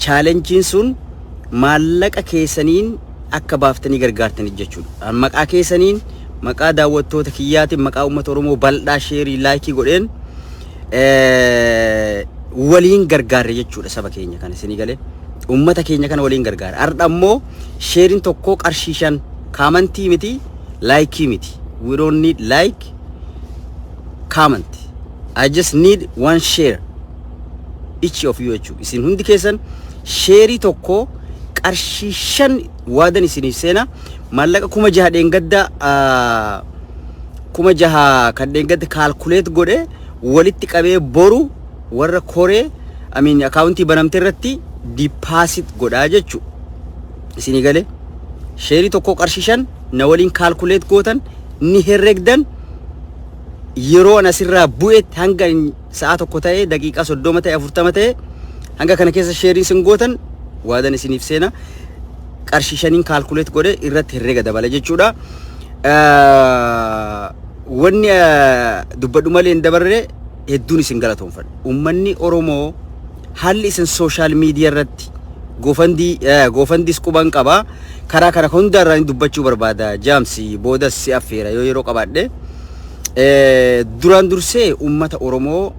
Chaalenjiin sun maallaqa keessaniin akka baaftanii gargaartanii jechuudha. Maqaa keessaniin maqaa daawwattoota kiyyaatiin maqaa uummata Oromoo bal'aa sheerii laayikii godheen waliin gargaarre jechuudha saba keenya kana isinii galee ummata keenya kana waliin gargaarre har'a immoo sheerin tokkoo qarshii shan kaamantii miti laayikii miti we don't need like comment I just need one share each of you jechuudha isin hundi keessan sheerii tokkoo qarshii shan waadan isiniif seena maallaqa kuma jaha dheengaddaa kuma jaha kan dheengadda kaalkuleet godhe walitti qabee boru warra koree amiin akaawuntii banamte irratti dipaasit godhaa jechu isinii galee sheerii tokko qarshishan na waliin kaalkuleet gootan ni herregdan yeroo an asirraa bu'etti hanga Sa'aa tokko ta'e, daqiiqaa 30 ta'e, 40 ta'e hanga kana keessa sheerii sin gootan waadan isiniif seena. Qarshii shaniin kaalkuleet godhe irratti herrega dabala jechuudha. Wanni dubbadhu malee hin dabarre hedduun isin galatoomfadha. Uummanni Oromoo haalli isin sooshaal miidiyaa irratti goofandii goofandiis quban qaba. Karaa kana hundaarraa dubbachuu barbaada. Jaamsi boodas si affeera yoo yeroo qabaadhe. Eh, Duraan dursee uummata Oromoo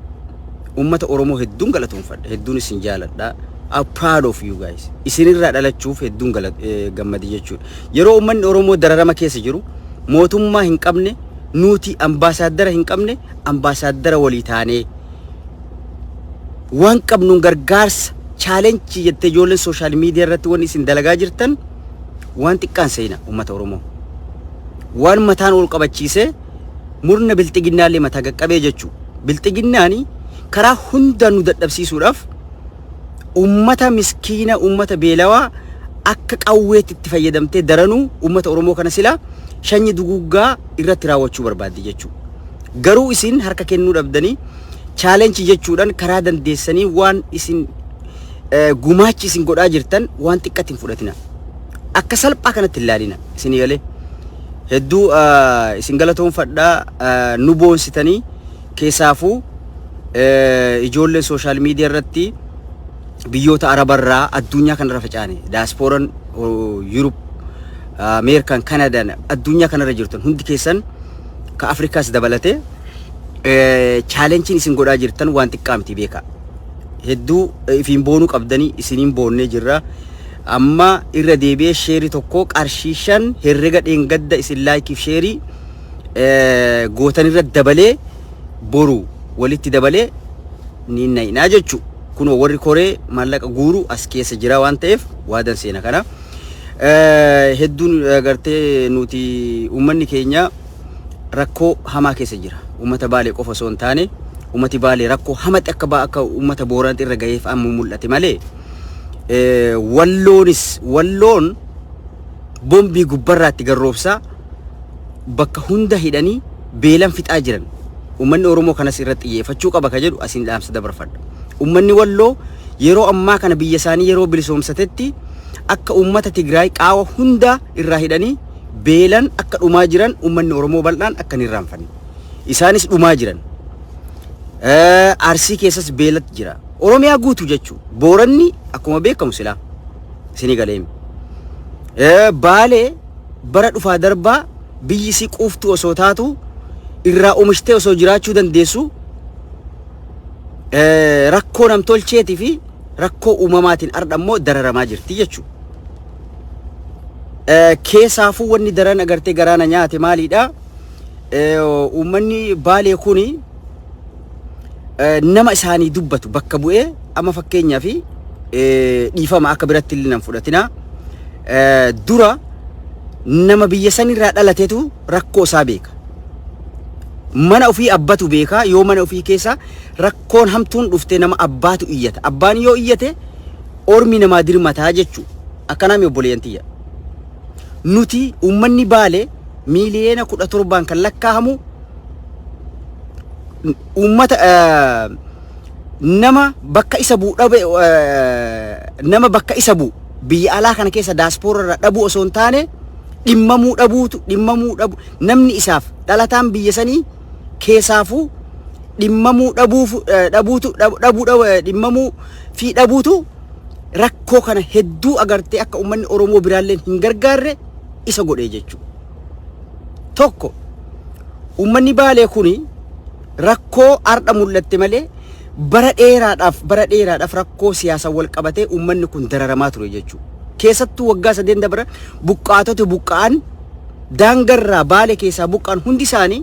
uummata Oromoo hedduun galatoomfadha. Hedduun isin jaaladha. I'm proud of you guys. Isinirraa dhalachuuf hedduun gala- eh, gammade jechuudha. Yeroo uummanni Oromoo dararama keessa jiru mootummaa hin qabne nuti ambaasaaddara hin qabne ambaasaaddara walii taanee waan qabnuun gargaarsa chaalenjii jettee ijoolleen sooshaal miidiyaa irratti waan isin dalagaa jirtan waan xiqqaan seena uummata Oromoo. Waan mataan ol qabachiisee murna bilxiginnaallee mataa gaqqabee jechuu. Bilxiginnaani karaa hundaan nu dadhabsiisuudhaaf uummata miskiina uummata beelawaa akka qawweetti itti fayyadamtee daranuu uummata Oromoo kana silaa shanyi duguuggaa irratti raawwachuu barbaaddi jechuu. Garuu isin harka kennuu dhabdanii chaalenchi jechuudhaan karaa dandeessanii waan isin gumaachi isin godhaa jirtan waan xiqqatti hin fudhatina. Akka salphaa kanatti hin laalina isin galee. Hedduu isin galatoomfadhaa nu boonsitanii keessaafuu ijoolleen sooshaal miidiyaa irratti biyyoota arabarraa addunyaa kanarra facaane daaspooran yuurup ameerikan kanadaan addunyaa kanarra jirtan hundi keessan ka afrikaas dabalate chaalenchiin isin godhaa jirtan waan xiqqaa miti beeka hedduu ifiin boonuu qabdanii isiniin boonnee jirra. Amma irra deebi'ee sheerii tokko qarshii shan herrega dheengadda isin laayikiif sheerii gootan irra dabalee boru walitti dabalee ni na'inaa jechu. Kun warri koree maallaqa guuru as keessa jira waan ta'eef waadan seena kana. Hedduun gartee nuti uummanni keenya rakkoo hamaa keessa jira. Uummata Baalee qofa osoo hin taane uummati Baalee rakkoo hamatti akka baa akka uummata Booranatti irra gaheef amma mul'ate malee walloonis walloon bombii gubbarraatti garroobsaa bakka hunda hidhanii beelan fixaa jiran. Uummanni Oromoo kanas irratti xiyyeeffachuu qaba kan jedhu asiin dhaamsa dabarfadha. Uummanni walloo yeroo ammaa kana biyya isaanii yeroo bilisoomsatetti akka uummata Tigraay qaawa hunda irraa hidhanii beelan akka dhumaa jiran uummanni Oromoo bal'aan akka hin irraanfanne. Isaanis dhumaa jiran. Eh, Arsii keessas beelatti jira. Oromiyaa guutu jechuun booranni akkuma beekamu silaa isinii galeemi. Eh, Baalee bara dhufaa darbaa biyyi isii quuftuu osoo taatu irraa oomishtee osoo jiraachuu dandeessu eh, rakkoo namtolcheetii fi rakkoo uumamaatiin ardha immoo dararamaa jirti jechuudha. Keessaafuu wanni daran agartee garaana nyaate maaliidha? Uummanni baalee kuni nama isaanii dubbatu bakka bu'ee amma fakkeenyaa fi dhiifama akka biratti illee nan fudhatina. Dura nama biyya sanirraa dhalatetu rakkoo isaa beeka. Mana ofii abbatu beeka yoo mana ofii keessa rakkoon hamtuun dhufte nama abbaatu iyyata. Abbaan yoo iyyate ormi namaa dirmataa jechu akkanaa mi obboleeyyan tiyya. Nuti uummanni baale miiliyeena kudha torbaan kan lakkaahamu uummata nama bakka isa bu'u dhabe nama bakka isa bu'u biyya alaa kana keessa daaspoora irraa dhabuu osoo hin taane dhimmamuu dhabuutu dhimmamuu dhabu namni isaaf dhalataan biyya sanii keesaafuu dhimmamuu dhabuuf eh, dhabuutu dhab- dhabuu dhab- eh, dhimmamuu fi dhabuutu rakkoo kana hedduu agartee akka uummanni Oromoo biraalleen hin gargaarre isa godhee jechuudha. Tokko uummanni baalee kuni rakkoo har'a mul'atte malee bara dheeraadhaaf bara dheeraadhaaf rakkoo siyaasaan wal qabatee uummanni kun dararamaa ture jechuudha. Keessattuu waggaa sadeen dabran buqqaatota buqqa'an daangarraa baale keessaa buqqaan hundi isaanii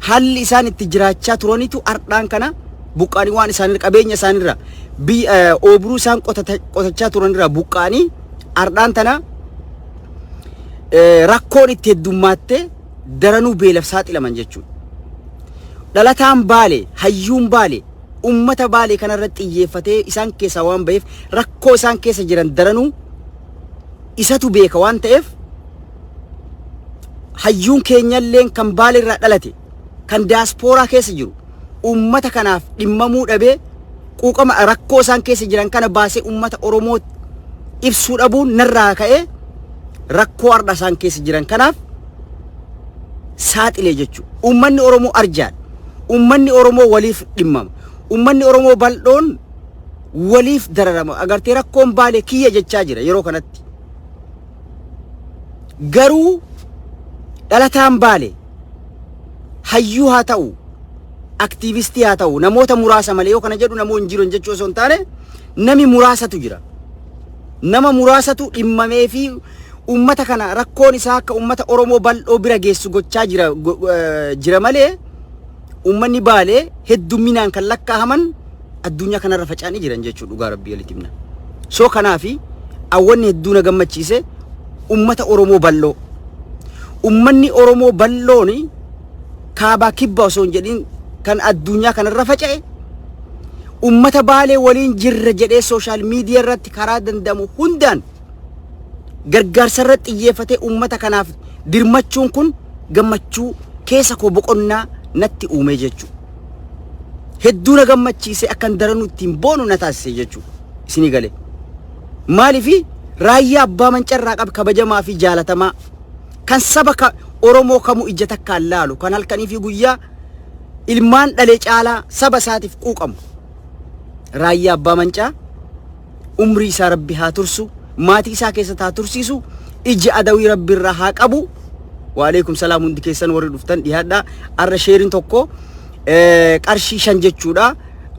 haalli isaan itti jiraachaa turanitu ardhaan kana buqqaanii waan isaanirra qabeenya isaanirra biyya eh, oobruu isaan qotata- qotachaa turanirraa buqqaanii ardhaan tana eh, rakkoon itti heddummaattee daranuu beelaf saaxilaman jechuudha. Dhalataan baale, hayyuun baale, ummata baale kanarratti xiyyeeffatee isaan keessaa waan ba'eef rakkoo isaan keessa jiran daranuu isatu beeka waan ta'eef hayyuun keenyalleen kan baale irraa dhalate kan daaspooraa keessa jiru uummata kanaaf dhimmamuu dhabee quuqama rakkoo isaan keessa jiran kana baasee uummata Oromoo ibsuu dhabuun narraa ka'ee rakkoo har'a isaan keessa jiran kanaaf saaxilee jechuudha. Uummanni Oromoo arjaan, uummanni Oromoo waliif dhimmama, uummanni Oromoo bal'oon waliif dararama agartee rakkoon baalee kiyya jechaa jira yeroo kanatti garuu dhalataan baale hayyuu haa ta'u aktiivistii haa ta'u namoota muraasa malee yoo kana jedhu namoo hin jiran jechuu osoo hin taane nami muraasatu jira nama muraasatu dhimmamee fi ummata kana rakkoon isaa akka ummata Oromoo bal'oo bira geessu gochaa jira go- eh, jira malee ummanni baalee heddumminaan kan lakkaa'aman addunyaa kanarra faca'anii jiran jechuudha dhugaa rabbii walitti himna. So kanaafi awwanni hedduu na gammachiise ummata Oromoo bal'oo. Ummanni Oromoo bal'oon kaabaa kibba osoo hin jedhin kan addunyaa kanarra faca'e ummata baalee waliin jirra jedhee sooshaal miidiyaa irratti karaa danda'amu hundaan gargaarsa irratti xiyyeeffatee ummata kanaaf dirmachuun kun gammachuu keessa koo boqonnaa natti uumee jechuudha. hedduu na gammachiisee akkan daranuu ittiin boonu na taasise jechuudha. Isinii galee. Maaliifi raayyaa abbaa mancarraa qabu kabajamaa fi jaalatamaa kan saba ka Oromoo kamuu ija takkaan laalu kan halkanii fi guyyaa ilmaan dhalee caalaa saba isaatiif quuqamu. Raayyaa abbaa mancaa umrii isaa rabbi haa tursu maatii isaa keessatti haa tursiisu iji adawii rabbi irraa haa qabu waaleekum salaam hundi keessan warri dhuftan dhiyaadha arra sheerin tokko eh, qarshii shan jechuudha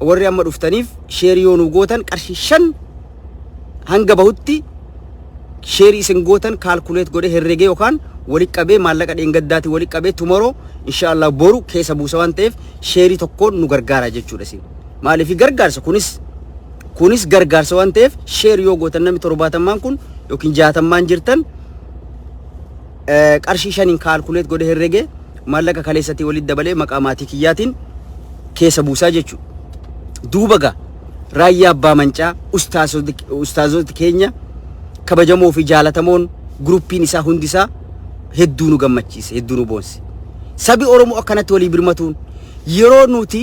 warri amma dhuftaniif sheerii yoo nu gootan qarshii shan hanga bahutti sheerii isin gootan kaalkuleet godhe herregee yookaan walitti qabee maallaqa dheengaddaati walitti qabee tumoroo inshaallah boru keessa buusa waan ta'eef sheerii tokkoon nu gargaara jechuudha isin maaliif gargaarsa kunis Kunis gargaarsa waan ta'eef share yoo gootan namni torbaatammaan kun yookiin jaatammaan jirtan qarshii shaniin kaalkuleet godhe herrege maallaqa kaleessatii walitti dabalee maqaa maatii kiyyaatiin keessa buusaa jechuudha. Duuba gaa raayyaa abbaa mancaa ustaazoti keenya kabajamoo fi jaalatamoon guruppiin isaa hundi isaa hedduu nu gammachiise hedduu nu boonse. Sabi Oromoo akkanatti walii birmatuun yeroo nuti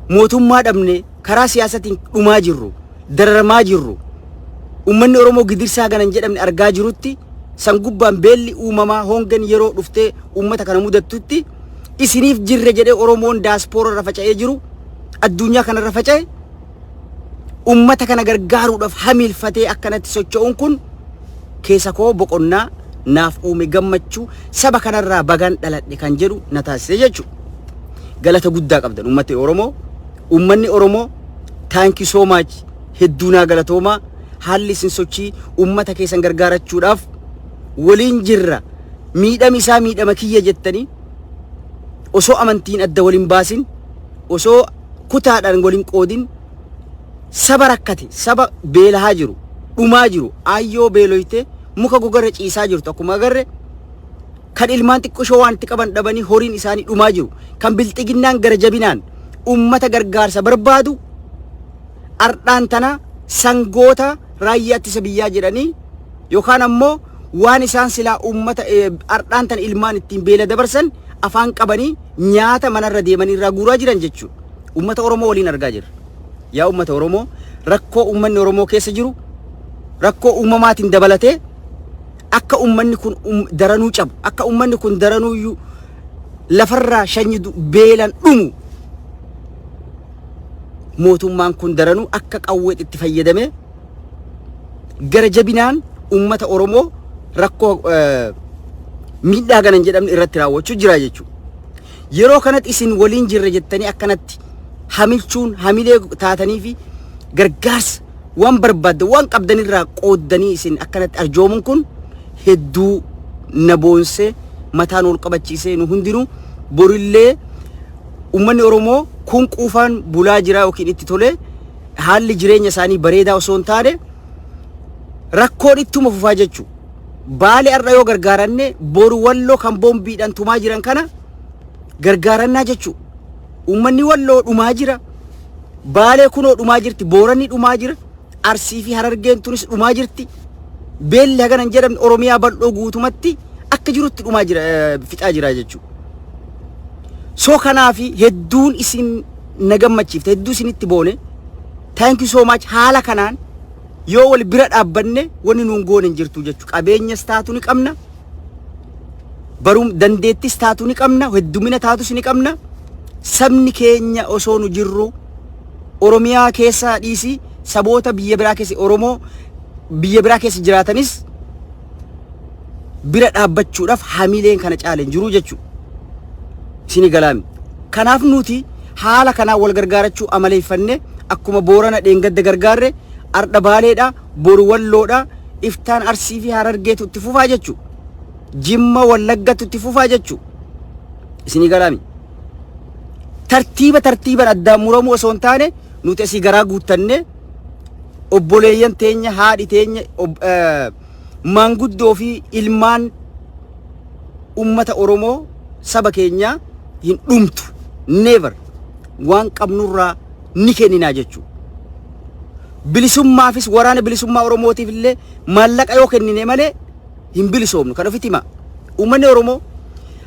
mootummaa dhabne karaa siyaasatiin dhumaa jirru, dararamaa jirru, ummanni Oromoo gidirsaa ganan jedhamne argaa jirutti san gubbaan beelli uumamaa hongen yeroo dhuftee uummata kana mudattutti isiniif jirre jedhee Oromoon daaspoora irra faca'ee jiru addunyaa kana irra faca'e uummata kana gargaaruudhaaf hamiilfatee akkanatti socho'uun kun keessa koo boqonnaa naaf uume gammachuu saba kanarraa bagaan dhaladhe kan jedhu na taasise jechuudha. Galata guddaa qabdan uummata Oromoo. Uummanni Oromoo thank you so much hedduu naa galatoomaa haalli isin sochii uummata keessan gargaarachuudhaaf waliin jirra miidhami isaa miidhama kiyya jettanii osoo amantiin adda waliin baasin osoo kutaadhaan waliin qoodin saba rakkate saba beelahaa jiru dhumaa jiru aayyoo beeloyte muka gogarra ciisaa jirtu akkuma agarre kan ilmaan xiqqoshoo waan itti qaban dhabanii horiin isaanii dhumaa jiru kan bilxiginnaan gara jabinaan ummata gargaarsa barbaadu ardhaan tana sangoota raayyaa ittisa biyyaa jedhanii yookaan ammoo waan isaan silaa ummata ardhaan tana ilmaan ittiin beela dabarsan afaan qabanii nyaata manarra deemanii irraa guuraa jiran jechuudha. Ummata Oromoo waliin argaa jirra. Yaa ummata Oromoo rakkoo ummanni Oromoo keessa jiru rakkoo uumamaatiin dabalatee akka ummanni kun um- daranuu cabu akka ummanni kun daranuu iyyuu lafarraa shanyi du- beelan dhumu mootummaan kun daranuu akka qawweet itti fayyadamee gara jabinaan ummata Oromoo rakkoo eh, miidhaa gana hin jedhamne irratti raawwachuu jira jechuudha. Yeroo kanatti isin waliin jirra jettanii akkanatti hamilchuun hamilee taatanii fi gargaarsa waan barbaaddan waan qabdan irraa qooddanii isin akkanatti arjoomuun kun hedduu na boonsee mataan ol qabachiisee nu hundinuu borillee uummanni Oromoo kun quufaan bulaa jiraa yookiin itti tolee haalli jireenya isaanii bareedaa osoo hin taane rakkoon ittuma fufaa jechuu baale har'a yoo gargaaranne boru walloo kan boombiidhaan tumaa jiran kana gargaarannaa jechuu Uummanni Walloo dhumaa jira. Baalee kunoo dhumaa jirti. Booranni dhumaa jira. Arsii fi Harargeen tunis dhumaa jirti. Beelli hagana hin jedhamne Oromiyaa bal'oo guutumatti akka jirutti dhumaa jira eh, fixaa jira jechuudha. So kanaaf hedduun isin na gammachiifte hedduu isinitti boone. Thank you so much haala kanaan yoo wal bira dhaabbanne wanni nuun goone hin jirtu jechuudha. Qabeenyas taatu ni qabna. Barum dandeettis taatu ni qabna, heddumina taatus ni qabna. Sabni keenya osoo nu jirru Oromiyaa keessaa dhiisi saboota biyya biraa keessa Oromoo biyya biraa keessa jiraatanis bira dhaabbachuudhaaf hamileen kana caaleen jiru jechuudha. Isin galaami. Kanaaf nuti haala kanaa wal gargaarachuu amaleeffanne akkuma boorana dheengadda gargaarre ardha baaleedha boru Walloodha, iftaan Arsii fi Harargeetu itti fufaa jechu. Jimma Wallaggatu itti fufaa jechu. Isinii galaami. Tartiiba tartiiban addaan muramuu osoo hin taane nuti asii garaa guuttannee obboleeyyan teenya haadhi teenya ob- eh, maanguddoo fi ilmaan ummata Oromoo saba keenyaa hin dhumtu. Never. Waan qabnurraa ni kenninaa jechuudha. Bilisummaafis waraana bilisummaa Oromootiif illee maallaqa yoo kennine malee hin bilisoomnu kan ofitti hima. Uummanni Oromoo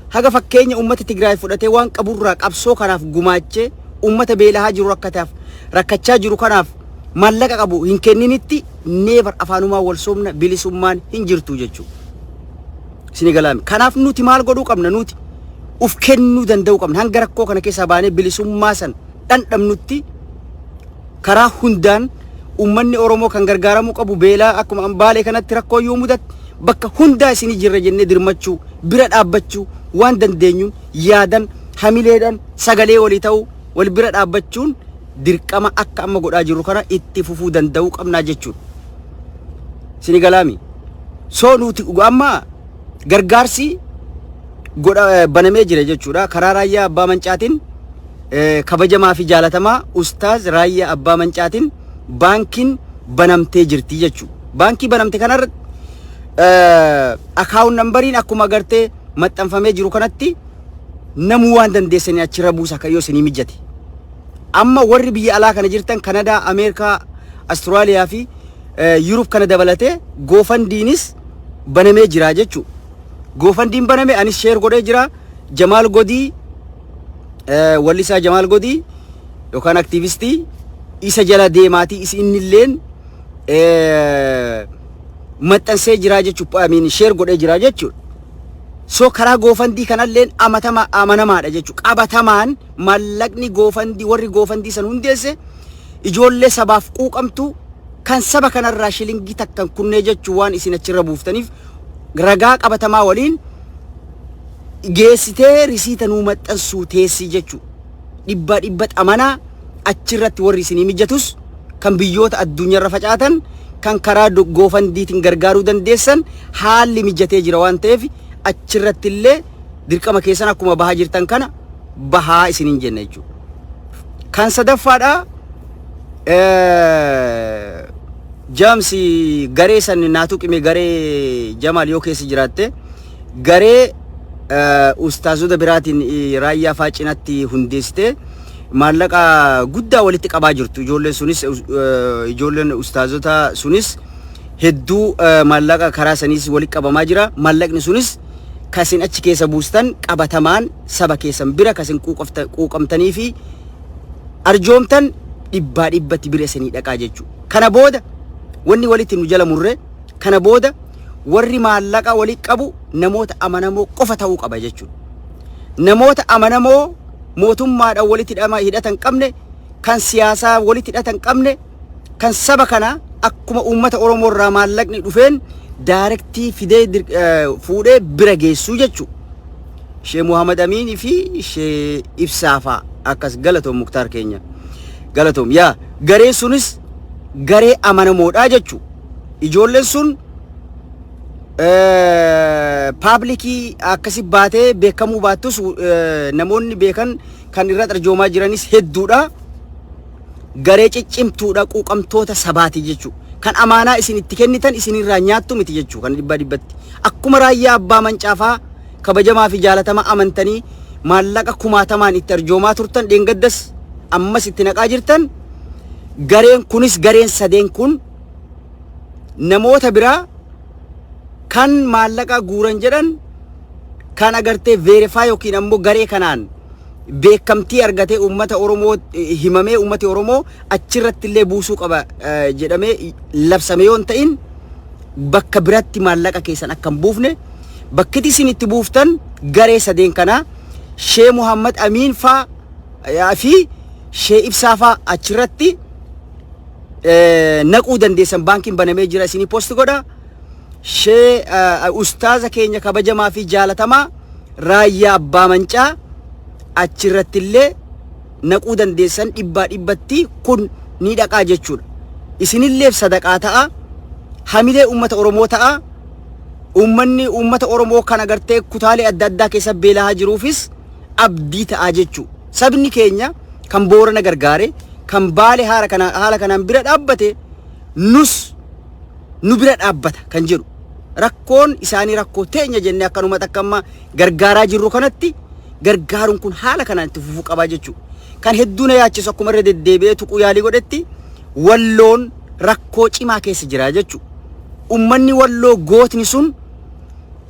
haga fakkeenya uummata Tigraay fudhatee waan qaburraa qabsoo kanaaf gumaachee uummata beelahaa jiru rakkataaf rakkachaa jiru kanaaf maallaqa qabu hin kenninitti neevar afaanumaa wal soomna bilisummaan hin jirtu jechuudha. Isin galaami. Kanaaf nuti maal godhuu qabna nuti uf kennuu danda'uu qabna hanga rakkoo kana keessaa baanee bilisummaa san dhandhamnutti karaa hundaan ummanni Oromoo kan gargaaramuu qabu beelaa akkuma ambaalee kanatti rakkoo yoo mudatti bakka hundaa isinii jirra jennee dirmachuu bira dhaabbachuu waan dandeenyuun yaadan hamileedhan sagalee walii ta'uu wal bira dhaabbachuun dirqama akka amma godhaa jirru kana itti fufuu danda'uu qabnaa jechuudha. Sini galaami. Soo nuti amma gargaarsi godha banamee jira jechuudha. Karaa raayyaa abbaa mancaatiin eh, kabajamaa fi jaalatamaa ustaaz raayyaa abbaa mancaatiin baankiin banamtee jirti jechuudha. Baankii banamte kanarratti akaawun nambariin akkuma agartee maxxanfamee jiru kanatti namuu waan dandeessanii achirra buusa akka yoo isinii mijate. Amma warri biyya alaa kana jirtan Kanadaa, Ameerikaa, Australia fi Yurub kana dabalatee goofandiinis banamee jira jechuu. Goofandiin baname anis sheer godhee jira. Jamaal Godii wallisaa Jamaal Godii yookaan aktiivistii isa jala deemaatii is innilleen maxxansee jira jechuudha. Amiin sheer godhee jira jechuudha. So karaa goofandii kanalleen amatama amanamaadha jechuudha. Qabatamaan mallaqni goofandii warri goofandii san hundeesse ijoollee sabaaf quuqamtuu kan saba kanarraa shilingii takkan kunnee jechuu waan isin achirra buuftaniif ragaa qabatamaa waliin geessitee risiita nuu maxxansuu teessii jechuu dhibbaa dhibba xamanaa achirratti warri isinii mijatus kan biyyoota addunyaarra facaatan kan karaa goofandiitiin gargaaruu dandeessan haalli mijatee jira waan ta'eef achirratti illee dirqama keessan akkuma bahaa jirtan kana bahaa isiniin jenna jechuudha. Kan sadaffaadha eh, jaamsi garee san naa tuqime garee jamaal yoo keessa jiraatte garee eh, ustaazota biraatiin eh, raayyaa faa cinatti hundeessite maallaqa guddaa walitti qabaa jirtu ijoolleen sunis eh, ijoolleen ustaazota sunis hedduu eh, maallaqa karaa saniis walitti qabamaa jira maallaqni sunis kasin achi keessa buustan qabatamaan saba keessan bira ka isin quuqofta- quuqamtanii fi arjoomtan dhibbaa dhibbatti bira isinii dhaqaa jechuudha. Kana booda wanni walitti nu jala murre kana booda warri maallaqa walitti qabu namoota amanamoo qofa ta'uu qaba jechuudha. Namoota amanamoo mootummaadhaan walitti hidhama- hidhata hin qabne kan siyaasaa walitti hidhata hin qabne kan saba kana akkuma uummata Oromoo irraa maallaqni dhufeen daarektii fidee dir- eh, fuudhee bira geessuu jechuudha. Shee Muhammad Amiin fi Shee Ibsaa faa akkas galatoom Muktaar keenya galatoom yaa gareen sunis garee amanamoodhaa jechu ijoolleen sun eh, paablikii akkasi baatee beekamuu baattus eh, namoonni beekan kan irra arjoomaa jiranis hedduudha garee ciccimtuudha quuqamtoota sabaati jechuu kan amaanaa isin itti kennitan isinirraa nyaattu miti jechuu kan dhibbaa dhibbatti akkuma raayyaa abbaa mancaafaa kabajamaa fi jaalatama amantanii maallaqa kumaatamaan itti arjoomaa turtan dheengaddas ammas itti naqaa jirtan gareen kunis gareen sadeen kun namoota biraa kan maallaqa guuran jedhan kan agartee veerifaa yookiin ammoo garee kanaan beekamtii argatee uummata Oromoo himamee uummati Oromoo achirratti illee buusuu qaba jedhamee labsame yoo hin ta'in bakka biratti maallaqa keessan akka hin buufne bakkiti isin itti buuftan garee sadeen kanaa Shee Muhammad Amiin faa fi Shee Ibsaa faa achirratti naquu dandeessan baankiin banamee jira isinii posti godha. shee eh, ustaaza keenya kabajamaa fi jaalatamaa raayyaa abbaa mancaa achirratti illee naquu dandeessan dhibbaa dhibbatti kun ni dhaqaa jechuudha. Isinilleef sadaqaa ta'a hamilee uummata Oromoo ta'a uummanni uummata Oromoo kan agartee kutaalee adda addaa keessa beelaa jiruufis abdii ta'a jechuudha. Sabni keenya kan boorana gargaare kan baale haala kana- haala kanaan bira dhaabbate nus nu bira dhaabbata kan jedhu rakkoon isaanii rakkoo teenya jennee akkanuma takka amma gargaaraa jirru kanatti gargaaruun kun haala kanaan itti fufuu qabaa jechuudha. Kan hedduu na yaachisu akkuma irra deddeebi'ee tuquu yaalii godhetti walloon rakkoo cimaa keessa jira jechuudha. Uummanni walloo gootni sun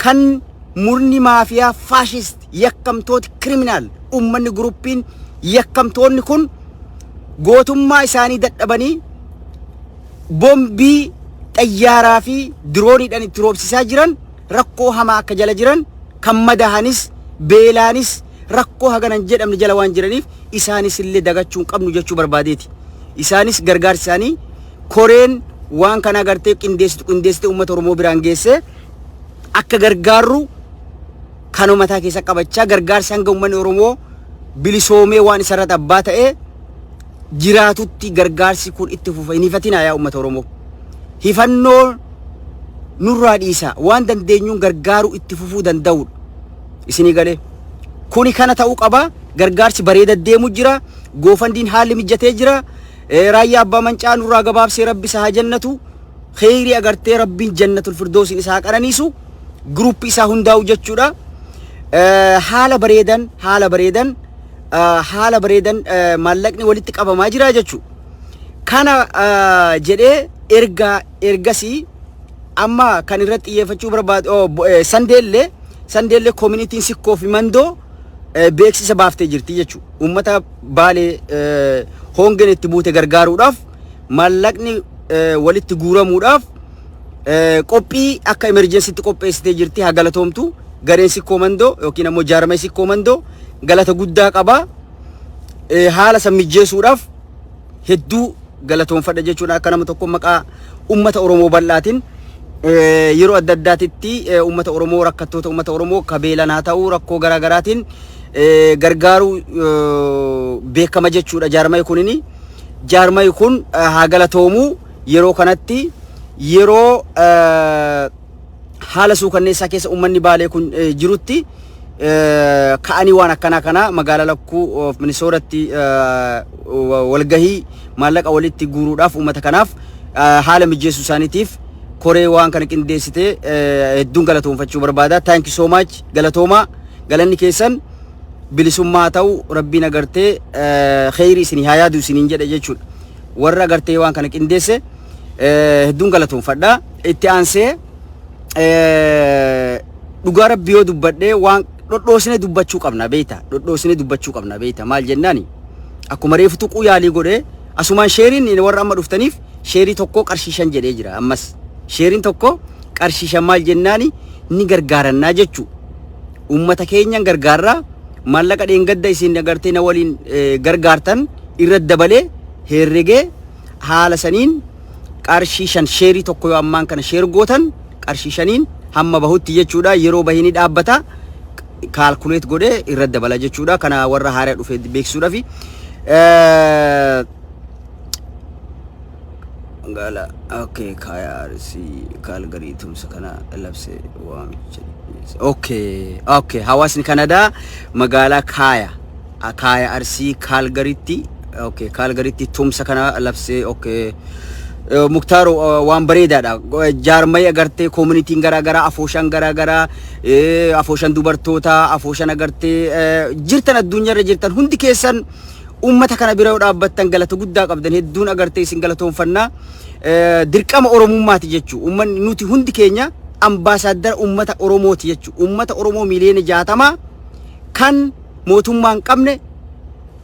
kan murni maafiyaa faashist yakkamtooti kiriminaal uummanni guruppiin yakkamtoonni kun gootummaa isaanii dadhabanii bombii xayyaaraa fi dirooniidhaan itti roobsisaa jiran rakkoo hamaa akka jala jiran kan madahanis beelaanis rakkoo hagana hin jedhamne jala waan jiraniif isaanis illee dagachuu hin qabnu jechuu barbaadeeti. Isaanis gargaarsi isaanii koreen waan kana agartee qindeessitu qindeessitee uummata Oromoo biraan geessee akka gargaarru kan uummataa keessa qabachaa gargaarsi hanga uummanni Oromoo bilisoomee waan isarratti abbaa ta'ee jiraatutti gargaarsi kun itti fufa. Hin hifatinaa yaa uummata Oromoo. Hifannoo nurraa dhiisaa waan dandeenyuun gargaaruu itti fufuu danda'udha. Isinii galee. Kuni kana ta'uu qaba. Gargaarsi bareeda deemu jira. Goofandiin haalli mijatee jira. Eh, Raayyaa abbaa mancaa nurraa gabaabsee rabbi isaa haa jannatu. Kheyrii agartee rabbiin jannatul firdoosiin isaa haa qananiisu. Gruuppi isaa hundaa'u jechuudha. Eh, Haala bareedan haala bareedan haala bareedan maallaqni walitti qabamaa jira jechu. Kana jedhee erga ergasii amma kan irratti xiyyeeffachuu barbaadu sandeellee sandeellee koominitiin sikkoo fi mandoo beeksisa baaftee jirti jechu. Uummata baalee hoongeen itti buute gargaaruudhaaf maallaqni walitti guuramuudhaaf qophii akka emerjensitti qopheessitee jirti haa galatoomtu gareen sikkoo mandoo yookiin ammoo jaarmee sikkoo mandoo galata guddaa qaba. Eh, Haala san mijjeessuudhaaf hedduu galatoonfadha jechuudha akka nama tokko maqaa ummata Oromoo bal'aatiin eh, yeroo adda addaatitti eh, ummata Oromoo rakkattoota ummata Oromoo ka beelan haa ta'uu rakkoo garaa garaatiin eh, gargaaruu eh, beekama jechuudha jaarmayi kunini jaarmayi kun eh, haa galatoomu yeroo kanatti yeroo eh, haala suukanneessaa keessa uummanni baalee kun jirutti ka'anii waan akkanaa kana magaalaa lakkuu of minisooratti walgahii maallaqa walitti guuruudhaaf uummata kanaaf haala mijeessuu isaaniitiif koree waan kana qindeessite hedduun galatoomfachuu barbaada. Thank you so much galatoomaa galanni keessan bilisummaa ta'u rabbiin agartee kheyri isin haa yaadu isiniin jedhe jechuudha. Warra agartee waan kana qindeesse. Eh, hedduun galatoomfadha. Itti aansee eh, dhugaa rabbi yoo dubbadhee waan dhodhoosine dubbachuu qabna beeyta. Dhodhoosine dubbachuu qabna beeyta. Maal jennaani? Akkuma reefu tuquu yaalii godhee asumaan sheeriin inni warra amma dhuftaniif sheerii tokko qarshii shan jedhee jira ammas. Sheeriin tokko qarshii shan maal jennaani ni gargaarannaa jechuu. Uummata keenyan gargaarraa maallaqa dheengadda isin agartee na waliin eh, gargaartan irra dabalee herregee haala saniin qarshii shan sheerii tokko yoo ammaan kana sheer gootan qarshii shaniin hamma bahutti jechuudha yeroo bahini dhaabbata kaalkuleet godhee irra dabala jechuudha kana warra haaraa dhufe beeksisuudhaaf gaala okay kaayarsi kaalgarii tumsa kana labse waamicha okay okay hawaasni kanadaa magaalaa kaaya Akaaya Arsii Kaalgaritti okay, Kaalgaritti tumsa kana labsee okay. Eh, Muktaar eh, waan bareedaadha. Go- eh, Jaarmaya agartee koomunitiin garaa garaa afooshaan garaa garaa eh, afooshaan dubartootaa afooshaan agartee eh, jirtan addunyaarra jirtan hundi keessan uummata kana bira yoo dhaabbattan galata guddaa qabdan hedduun agartee isin galatoomfannaa Eh, dirqama oromummaati jechuu uummanni nuti hundi keenya ambaasaaddara uummata oromooti jechuu uummata oromoo miliyoona jaatamaa kan mootummaa hin qabne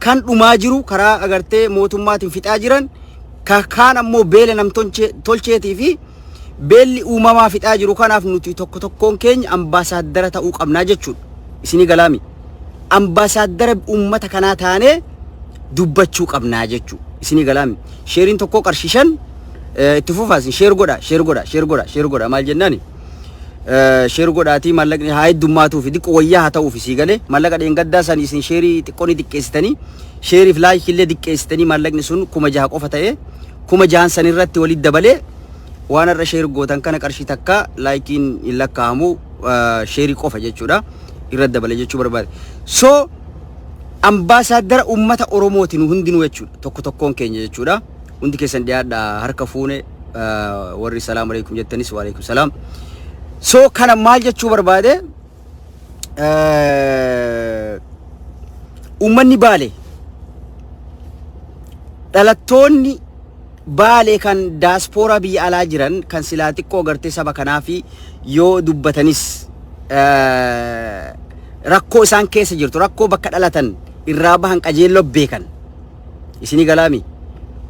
kan dhumaa jiru karaa agartee mootummaatiin fixaa jiran ka- kaan ammoo beela namtolchee- tolcheetii fi beelli uumamaa fixaa jiru kanaaf nuti tokko tokkoon keenya ambaasaaddara ta'uu qabnaa jechuudha. Isinii galaami. Ambaasaaddara uummata kanaa taanee dubbachuu qabnaa jechuudha. Isinii galaami. Sheeriin tokkoo qarshii shan eh, itti fufaa isin sheer godha sheer godha sheer godha sheer godha maal jennaani? Sheer godhaatii mallaqni haa heddummaatu fi diqqo wayyaa haa ta'uuf sii galee mallaqa dheengaddaa san isin sheerii xiqqoo ni xiqqeessitanii sheeriif laayikii illee xiqqeessitanii mallaqni sun kuma jaha qofa ta'ee kuma jahan san irratti walitti dabalee waan har'a sheer gootan kana qarshii takka laayikiin hin lakkaa'amu sheerii qofa jechuudha irratti dabale jechuu barbaade. So ambaasaaddara uummata Oromooti nu hundinuu jechuudha tokko tokkoon keenya jechuudha. Hundi keessan dhiyaadha harka fuune warri salaam alaikum jettanis wa alaikum salaam. So kana maal jechuu barbaade uummanni baale dhalattoonni baale kan daaspooraa biyya alaa jiran kan silaa xiqqoo gartee saba kanaa fi yoo dubbatanis rakkoo isaan keessa jirtu rakkoo bakka dhalatan irraa bahan qajeelloo beekan. Isini galaami?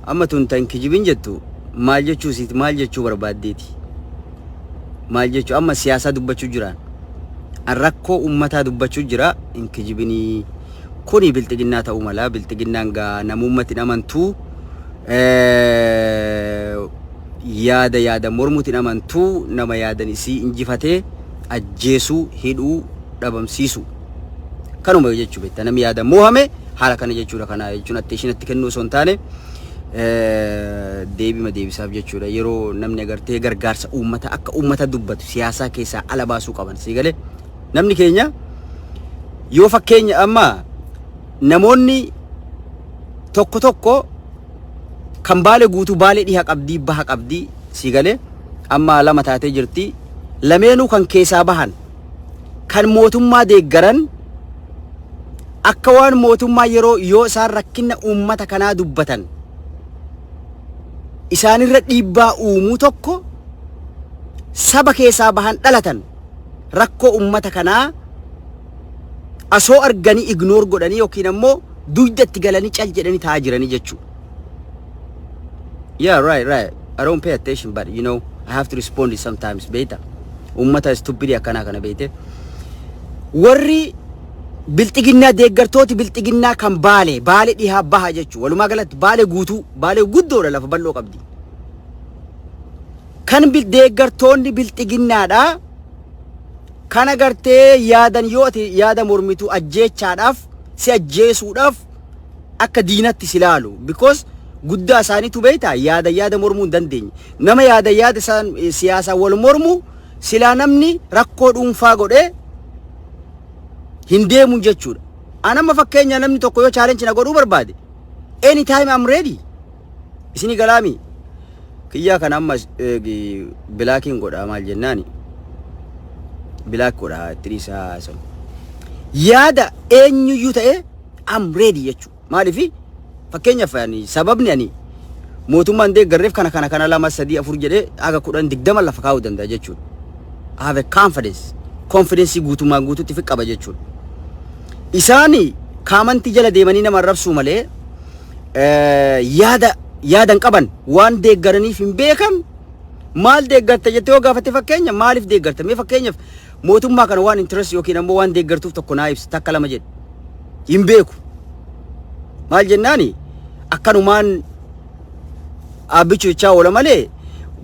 Amma tun tan kijibin jettu maal jechuu siit maal jechuu barbaaddeeti? Maal jechuu amma siyaasaa dubbachuu jiraan. An rakkoo ummataa dubbachuu jira hin kijibinii. Kuni bilxiginnaa ta'uu mala bilxiginnaan gaa namuummatti hin amantuu yaada yaada mormuutti hin amantuu nama yaadan isii injifatee ajjeesuu hidhuu dhabamsiisuu. Kanuma jechuu beektaa namni yaada moohame haala kana jechuudha kana jechuun atteeshin itti kennuu osoo hin taane deebima deebisaaf jechuudha yeroo namni agartee gargaarsa uummata akka uummata dubbatu siyaasaa keessaa ala baasuu qaban sii galee namni keenya yoo fakkeenya amma namoonni tokko tokko kan baale guutuu baale dhiha qabdii baha qabdii sii galee amma lama taatee jirti lameenuu kan keessaa bahan kan mootummaa deeggaran akka waan mootummaa yeroo yoo isaan rakkina uummata kanaa dubbatan isaanirra dhiibbaa uumuu tokko saba keessaa bahan dhalatan rakkoo uummata kanaa asoo arganii ignoor godhanii yookiin ammoo dugdatti galanii cal jedhanii taa'aa jiranii jechuudha. Yeah, right, right. I don't pay attention, but you know, I have to respond it sometimes. Beta. Ummata stupid akkana kana beete. Warri bilxiginnaa deeggartooti bilxiginnaa kan baale, baale dhihaa baha jechuudha. Walumaa galatti baale guutuu, baale guddoodha lafa bal'oo qabdi. Kan bil deeggartoonni bilxiginnaadha. Kan agartee yaadan yoo ati yaada mormitu ajjeechaadhaaf, si ajjeesuudhaaf akka diinatti si laalu because guddaa isaaniitu beektaa yaada yaada mormuu hin dandeenye nama yaada yaada isaan eh, siyaasaan wal mormu silaa namni rakkoo dhuunfaa godhee hin deemun jechuudha. An amma fakkeenya namni tokko yoo challenge na godhuu barbaade any time I'm ready isinii galaami kiyyaa kana amma eh, gi- bilaakiin godhaa maal jennaani bilaak godhaa itti dhiisaa sun yaada eenyuyyuu ta'ee I'm ready jechu. Maalifi fakkeenyaaf ani sababni ani mootummaan deeggarreef kana kana kana lama sadii afur jedhee haga kudhan digdama lafa kaa'uu danda'a jechuudha. I have a confidence. Confidence guutummaan guututti fi qaba jechuudha. Isaani kaamantii jala deemanii nama arrabsuu malee eh, yaada yaadan qaban waan deeggaraniif hin beekan maal deeggarta jettee yoo gaafatte fakkeenya maaliif deeggarta mee fakkeenyaaf Mootummaa kana waan interest yookiin ammoo waan deeggartuuf tokko naa ibsi takka lama jedhi. Hin beeku. Maal jennaani akkanumaan dhaabbichi jechaa oola malee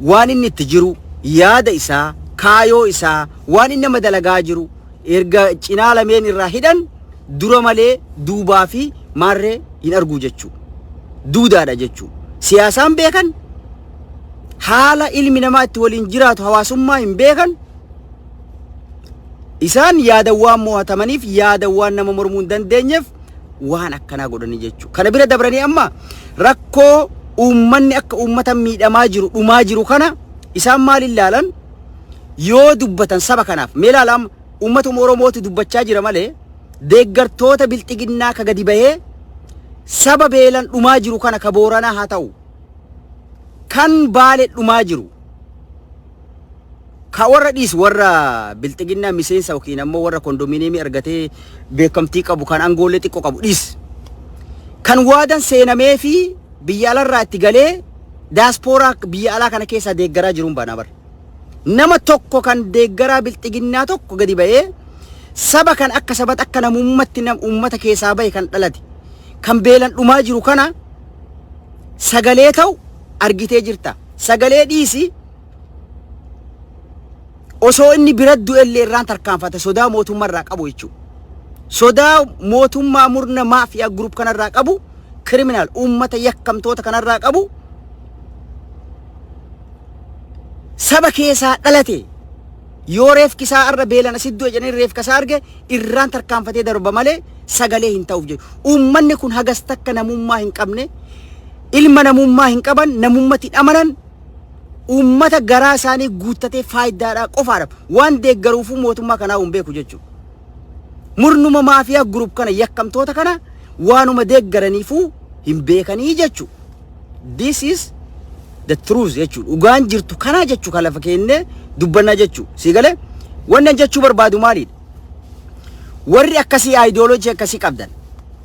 waan inni itti jiru yaada isaa kaayoo isaa waan inni nama dalagaa jiru erga cinaa lameen irraa hidhan dura malee duubaa fi maarree hin arguu jechuu duudaadha jechuu siyaasaan beekan haala ilmi namaa itti waliin jiraatu hawaasummaa hin beekan Isaan yaada waan mo'atamaniif yaada waan nama mormuu hin dandeenyeef waan akkanaa godhanii jechuudha. Kana bira dabranii amma rakkoo uummanni akka uummata miidhamaa jiru dhumaa jiru kana isaan maal ilaalan yoo dubbatan saba kanaaf mee ilaala amma uummatuma Oromootu dubbachaa jira malee deeggartoota bilxiginnaa ka gadi bahee saba beelan dhumaa jiru kana ka booranaa haa ta'u kan baale dhumaa jiru Ka warra dhiis warra bilxiginnaa miseensa yookiin ammoo warra kondominiyeemii argatee beekamtii qabu kan angoollee xiqqoo qabu dhiis. Kan waadan seenamee fi biyya alarraa itti galee daaspooraa biyya alaa kana keessaa deeggaraa jiruun baanaa bara. Nama tokko kan deeggaraa bilxiginnaa tokko gadi ba'ee saba kan akka sabatti akka namummatti nam uummata keessaa bahe kan dhalate kan beelan dhumaa jiru kana sagalee ta'u argitee jirta sagalee dhiisi osoo inni bira du'ellee irraan tarkaanfata sodaa mootummaa irraa qabu jechuudha. Sodaa mootummaa murna maafiyaa gurup kanarraa qabu kiriminaal uummata yakkamtoota kanarraa qabu saba keessaa dhalate yoo reefki isaa irra beelana siddoo jedhanii reefka isaa arge irraan tarkaanfatee darba malee sagalee hin ta'uuf jedhu. Uummanni kun hagas takka namummaa hin qabne ilma namummaa hin qaban namummatti hin amanan uummata garaa isaanii guuttatee faayidaadhaa qofaadha waan deeggaruufuu mootummaa kanaa hin beeku jechuudha. Murnuma maafiyaa gurup kana yakkamtoota kana waanuma deeggaraniifuu hin beekanii jechuudha. This is the truth jechuudha. Dhugaan jirtu kanaa jechuu kan lafa keennee dubbannaa jechuu. Sii galee? Wannan jechuu barbaadu maalidha? Warri akkasii ideology akkasii qabdan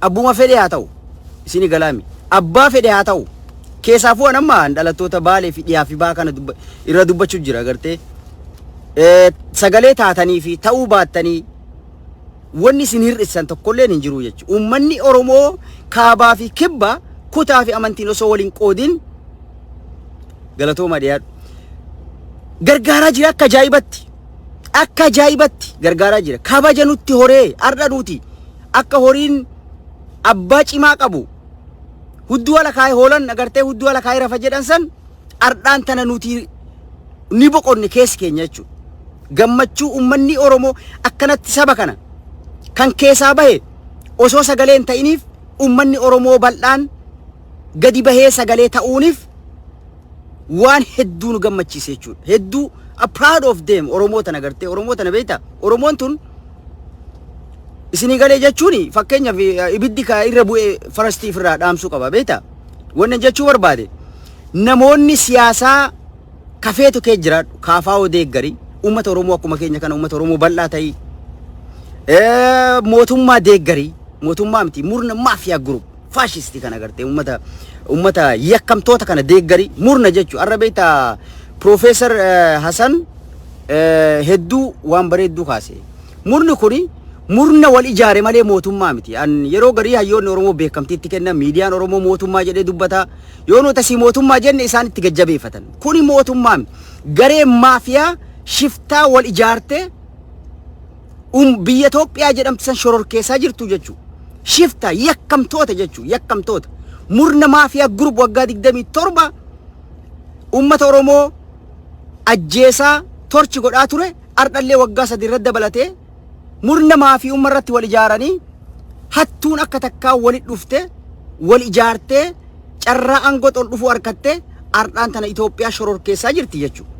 abbuma fedhe haa ta'u isini galaami abbaa fedhe haa ta'u keessaafuu an amma dhalattoota baalee fi dhiyaa fi baa kana dubba, irra dubbachuu jira gartee Eh, sagalee taatanii fi ta'uu baattanii wanni isin hir'isan tokkolleen hin jiru jechuudha. Uummanni Oromoo kaabaa fi kibba kutaa fi amantiin osoo waliin qoodin galatooma dhiyaadhu. Gargaaraa jira akka ajaa'ibatti. akka ajaa'ibatti gargaaraa jira. Kabaja nutti horee har'a nuti akka horiin abbaa cimaa qabu hudduu ala kaa'ee hoolan agartee hudduu ala kaa'ee rafa jedhan san har'aan tana nuti ni boqonne keessi keenya jechuudha. Gammachuu uummanni Oromoo akkanatti saba kana kan keessaa bahe osoo sagalee hin ta'iniif uummanni Oromoo bal'aan gadi bahee sagalee ta'uunif waan hedduu nu gammachiise jechuudha. Hedduu a proud of them Oromoo tana gartee Oromoo tana beekta Oromoon tun isinii galee jechuun fakkeenyaaf eh, ibiddi ka irra bu'e farastii ofirraa dhaamsuu qaba beekta. Wanni jechuu barbaade namoonni siyaasaa kafeetu kee jiraadhu kaafaa oo deeggarii uummata Oromoo akkuma keenya kana uummata Oromoo bal'aa ta'ii Eh, mootummaa deeggarii mootummaa miti murna maafiyaa group faashistii kana agartee ummata ummata yakkamtoota kana deeggari murna jechu arra beekta Piroofeesar Hasan hedduu waan bareedduu kaase. Murni kuni murna wal ijaare malee mootummaa miti. An yeroo garii hayyoonni Oromoo beekamtiitti kenna miidiyaan Oromoo mootummaa jedhee dubbata. Yoo nuti asii mootummaa jenne isaan itti gajjabeeffatan. Kuni mootummaa miti. Garee maafiyaa shiftaa wal ijaartee um, biyya Itoophiyaa jedhamtu san shororkeessaa jirtu jechuu shifta yakkamtoota jechuu yakkamtoota murna maafiyaa gurub waggaa 27 ummata Oromoo ajjeesaa torchi godhaa ture ardhallee waggaa sadii irratti dabalatee murna maafii umma irratti wal ijaaranii hattuun akka takkaa wali dhufte wal ijaartee carraa aangootti ol dhufuu harkattee ardhaan tana Itoophiyaa shororkeessaa jirti jechuudha.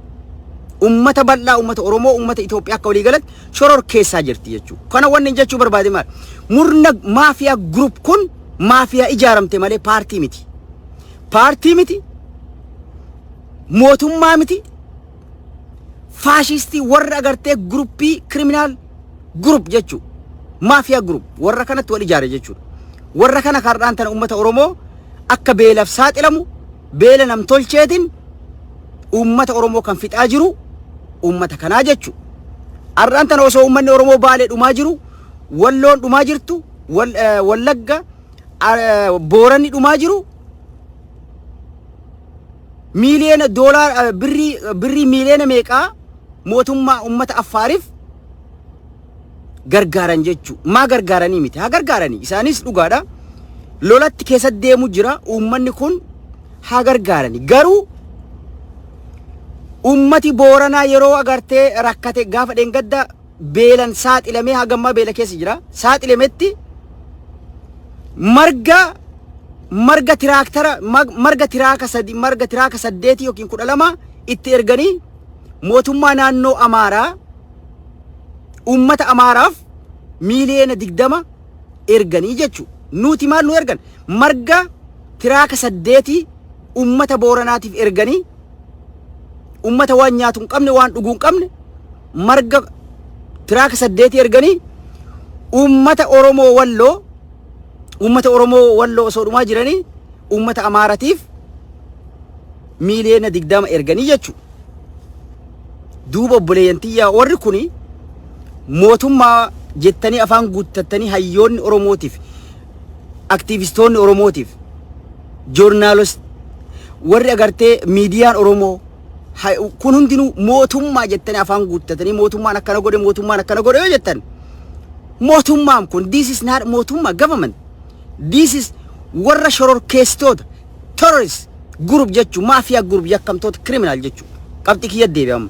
Uummata bal'aa, uummata Oromoo, uummata Itoophiyaa akka walii galatti shororkeessaa jirti jechuudha. Kana wanni jechuu barbaade maal? Murna maafiyaa group kun maafiyaa ijaaramte malee paartii miti. Paartii miti, mootummaa miti, faashistii warra agartee guruppii kiriminaal gurup jechuu maafiyaa gurup warra kanatti wal ijaare jechuudha. Warra kana kardhaan tana uummata Oromoo akka beelaaf saaxilamu beela namtolcheetiin uummata Oromoo kan fixaa jiru uummata kanaa jechuudha. Har'aan tana osoo uummanni Oromoo baalee dhumaa jiru walloon dhumaa jirtu wallagga booranni dhumaa jiru miiliyoona doolaara birrii birrii miiliyoona meeqaa mootummaa ummata affaariif gargaaran jechuu maa gargaaranii miti haa gargaaranii isaanis dhugaadha lolatti keessa deemu jira uummanni kun haa gargaarani garuu ummati booranaa yeroo agartee rakkate gaafa dheengadda beelan saaxilamee haga ammaa beela keessa jira. Saaxilametti marga marga tiraaktara mag- marga tiraaka sadi marga tiraaka saddeetii yookiin kudha lama itti erganii mootummaa naannoo Amaaraa uummata Amaaraaf miiliyoona digdama erganii jechu. Nuti maal nu ergan? Marga tiraaka saddeetii uummata Booranaatiif erganii uummata waan nyaatu hin qabne waan dhuguu hin qabne marga tiraaka saddeetii erganii uummata Oromoo Walloo uummata Oromoo Walloo osoo dhumaa jiranii uummata Amaaratiif miiliyoona digdama erganii jechuudha. Duuba obboleeyyan tiyyaa warri kuni mootummaa jettanii afaan guuttattanii hayyoonni Oromootiif aktiivistoonni Oromootiif joornaalos warri agartee miidiyaan Oromoo ha- kun hundinuu mootummaa jettanii afaan guuttatanii mootummaan akkana godhe mootummaan akkana godhe yoo jettan mootummaan kun this is not mootummaa government this is warra shororkeessitoota terrorist group jechuun maafiyaa group yakkamtoota criminal jechuun qabxii kiyya deebi'ama.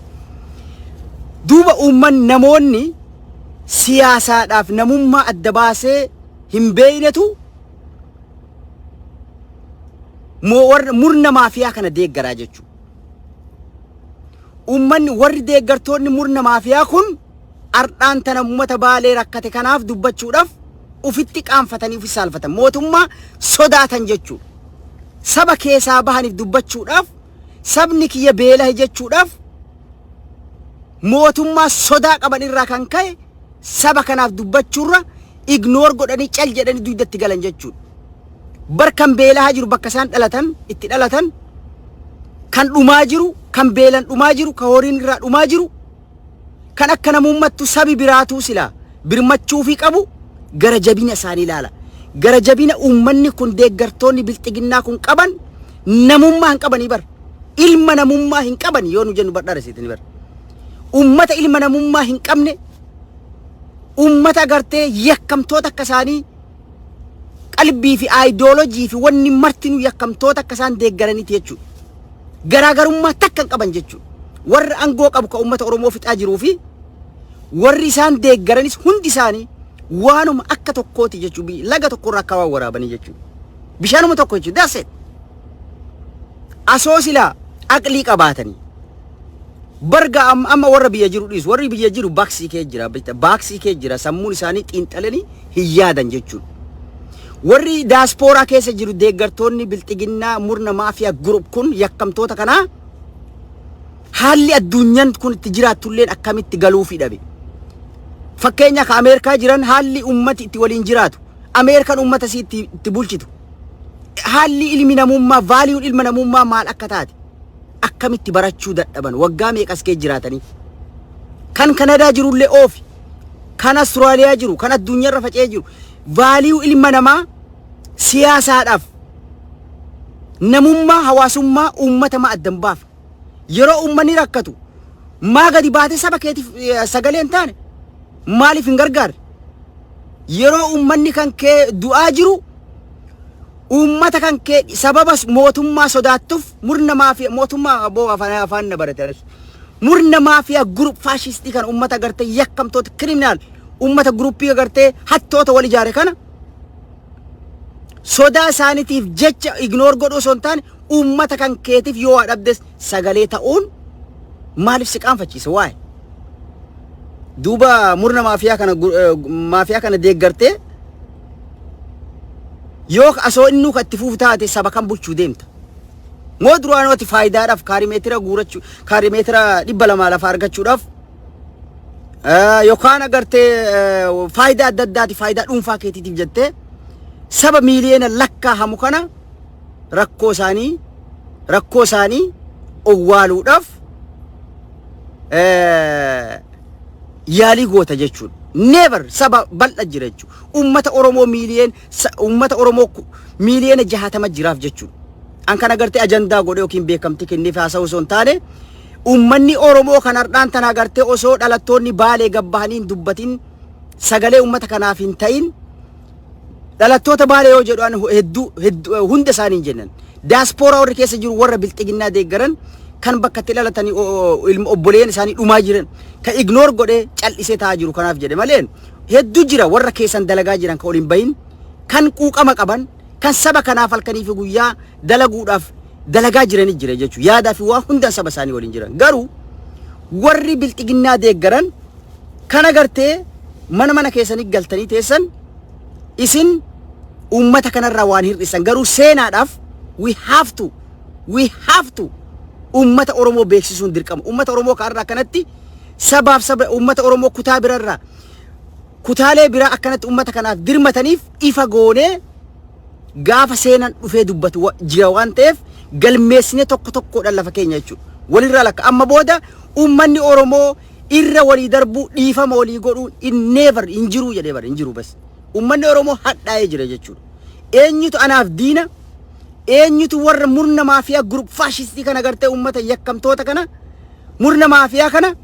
Duuba uumman namoonni siyaasaadhaaf namummaa adda baasee hin beeknetu murna maafiyaa kana deeggaraa jechuudha. Uummanni warri deeggartoonni murna maafiyaa kun ardhaan tana uummata baalee rakkate kanaaf dubbachuudhaaf ufitti qaanfatanii ufi saalfatan mootummaa sodaatan jechuudha. Saba keessaa bahaniif dubbachuudhaaf sabni kiyya beelahe jechuudhaaf mootummaa sodaa qaban irraa kan ka'e saba kanaaf dubbachuurra ignore godhanii cal jedhanii dugda itti galan jechuudha. Bar kan beelahaa jiru bakka isaan dhalatan itti dhalatan kan dhumaa jiru kan beelan dhumaa jiru kan horiin irraa dhumaa jiru kan akka namummattu sabi biraatuu silaa birmachuufii qabu gara jabina isaanii ilaala. Gara jabina uummanni kun deeggartoonni bilxiginnaa kun qaban namummaa hin qabanii bar. Ilma namummaa hin qaban yoo nu jennu bar dharasiitini bar. Uummata ilma namummaa hin qabne ummata gartee yakkamtoota akka isaanii qalbii fi aayidoolojii fi wanni martinuu yakkamtoota akka isaan deeggaraniiti jechuudha. Garaagarummaa takka hin qaban jechuudha. Warra aangoo qabu kan ummata Oromoo fixaa jiruu fi warri isaan deeggaranis hundi isaanii waanuma akka tokkooti jechuudha. Laga tokkorraa akka waan waraabanii jechuudha. Bishaanuma tokko jechuudha. That's it. Asoo silaa aqlii qabaatanii Barga am- amma warra biyya jiru dhiisu. Warri biyya jiru baaksii kee jira. beektaa? Baaksii kee jira. Sammuun isaanii xiinxalanii hin yaadan jechuudha. Warri daaspooraa keessa jiru deeggartoonni bilxiginnaa murna maafiyaa gurup kun yakkamtoota kanaa haalli addunyaan kun itti jiraattulleen akkamitti galuufi dhabe. Fakkeenya ka Ameerikaa jiran haalli ummati itti waliin jiraatu. Ameerikaan ummata isii itti, itti bulchitu. Haalli ilmi namummaa, vaaliyuun ilma namummaa maal akka taate. akkamitti barachuu dadhaban waggaa meeqas kee jiraatanii kan kanadaa jirullee oofi kan Austraaliyaa jiru kan addunyaarra faca'ee jiru vaaliyuu ilma namaa siyaasaadhaaf namummaa hawaasummaa uummata maa addan baafa yeroo uummanni rakkatu maa gadi baatee saba keetiif eh, sagalee hin taane maaliif hin gargaarre yeroo uummanni kan kee du'aa jiru Uummata kan kee sababa mootummaa sodaattuf murna maafiyaa mootummaa aboo afaan afaan na baratanis murna maafiyaa gurup faashistii kana uummata agartee yakkamtoota kiriminaal uummata guruppii agartee hattoota wal ijaare kana sodaa isaaniitiif jecha ignoor godhuu osoo hin taane uummata kan keetiif yoo waa dhabdes sagalee ta'uun maaliif si qaanfachiisa waa'ee duuba murna maafiyaa kana gu- eh, maafiyaa kana deeggartee Yoo asoo innuu kan itti fufu taate saba kan bulchuu deemta. Moo duraanuu ati faayidaadhaaf kaarimeetira guurachuu kaarimeetira dhibba lamaa lafa argachuudhaaf eh, yookaan agartee eh, faayidaa adda addaati faayidaa dhuunfaa keetiitiif jettee saba miiliyoona lakkaa hamu kana rakkoo isaanii rakkoo isaanii owwaaluudhaaf eh, yaalii goota jechuudha. Never saba bal'a jira jechuudha. Uummata Oromoo miiliyeen uummata Oromoo ku- miiliyeena jahatama jiraaf jechuudha. An kana gartee ajandaa godhee yookiin beekamtii kenneef haasa'u osoo hin taane uummanni Oromoo kan har'aan tana gartee osoo dhalattoonni baalee gabbahanii hin dubbatin sagalee uummata kanaaf hin ta'in Dhalattoota Baalee yoo jedhu an hedduu hedduu hunda isaanii hin jennan. Daaspooraa warri keessa jiru warra bilxiginnaa deeggaran kan bakka itti dhalatanii o- o- ilma obboleeyyan isaanii dhumaa jiran kan ignoor godhee cal'isee taa'aa jiru kanaaf jedhe malee hedduu jira warra keessan dalagaa jiran kan ol hin bahin kan quuqama qaban kan saba kanaaf halkanii fi guyyaa dalaguudhaaf dalagaa jiranii jira jechuudha. Yaadaa fi waa hundaan saba isaanii waliin jiran. Garuu warri bilxiginnaa deeggaran kan agartee mana mana keessanii galtanii teessan isin uummata kanarraa waan hir'isan garuu seenaadhaaf we have to we have to uummata Oromoo beeksisuun dirqama. Uummata Oromoo kanarraa akkanatti sabaaf saba uummata Oromoo kutaa birarraa kutaalee biraa akkanatti uummata kanaaf dirmataniif ifa goonee Gaafa seenan dhufee dubbatu wa- jira waan ta'eef galmeessinee tokko tokkoodhaan lafa keenya jechuudha. Walirraa lakka amma booda uummanni Oromoo irra walii darbuu dhiifama walii godhuun in never hin jiruu jedhee bara hin jiru bas. Uummanni Oromoo hadhaa'ee jira jechuudha. Eenyutu anaaf diina eenyutu warra murna maafiyaa gurup faashistii kana gartee uummata yakkamtoota kana murna maafiyaa kana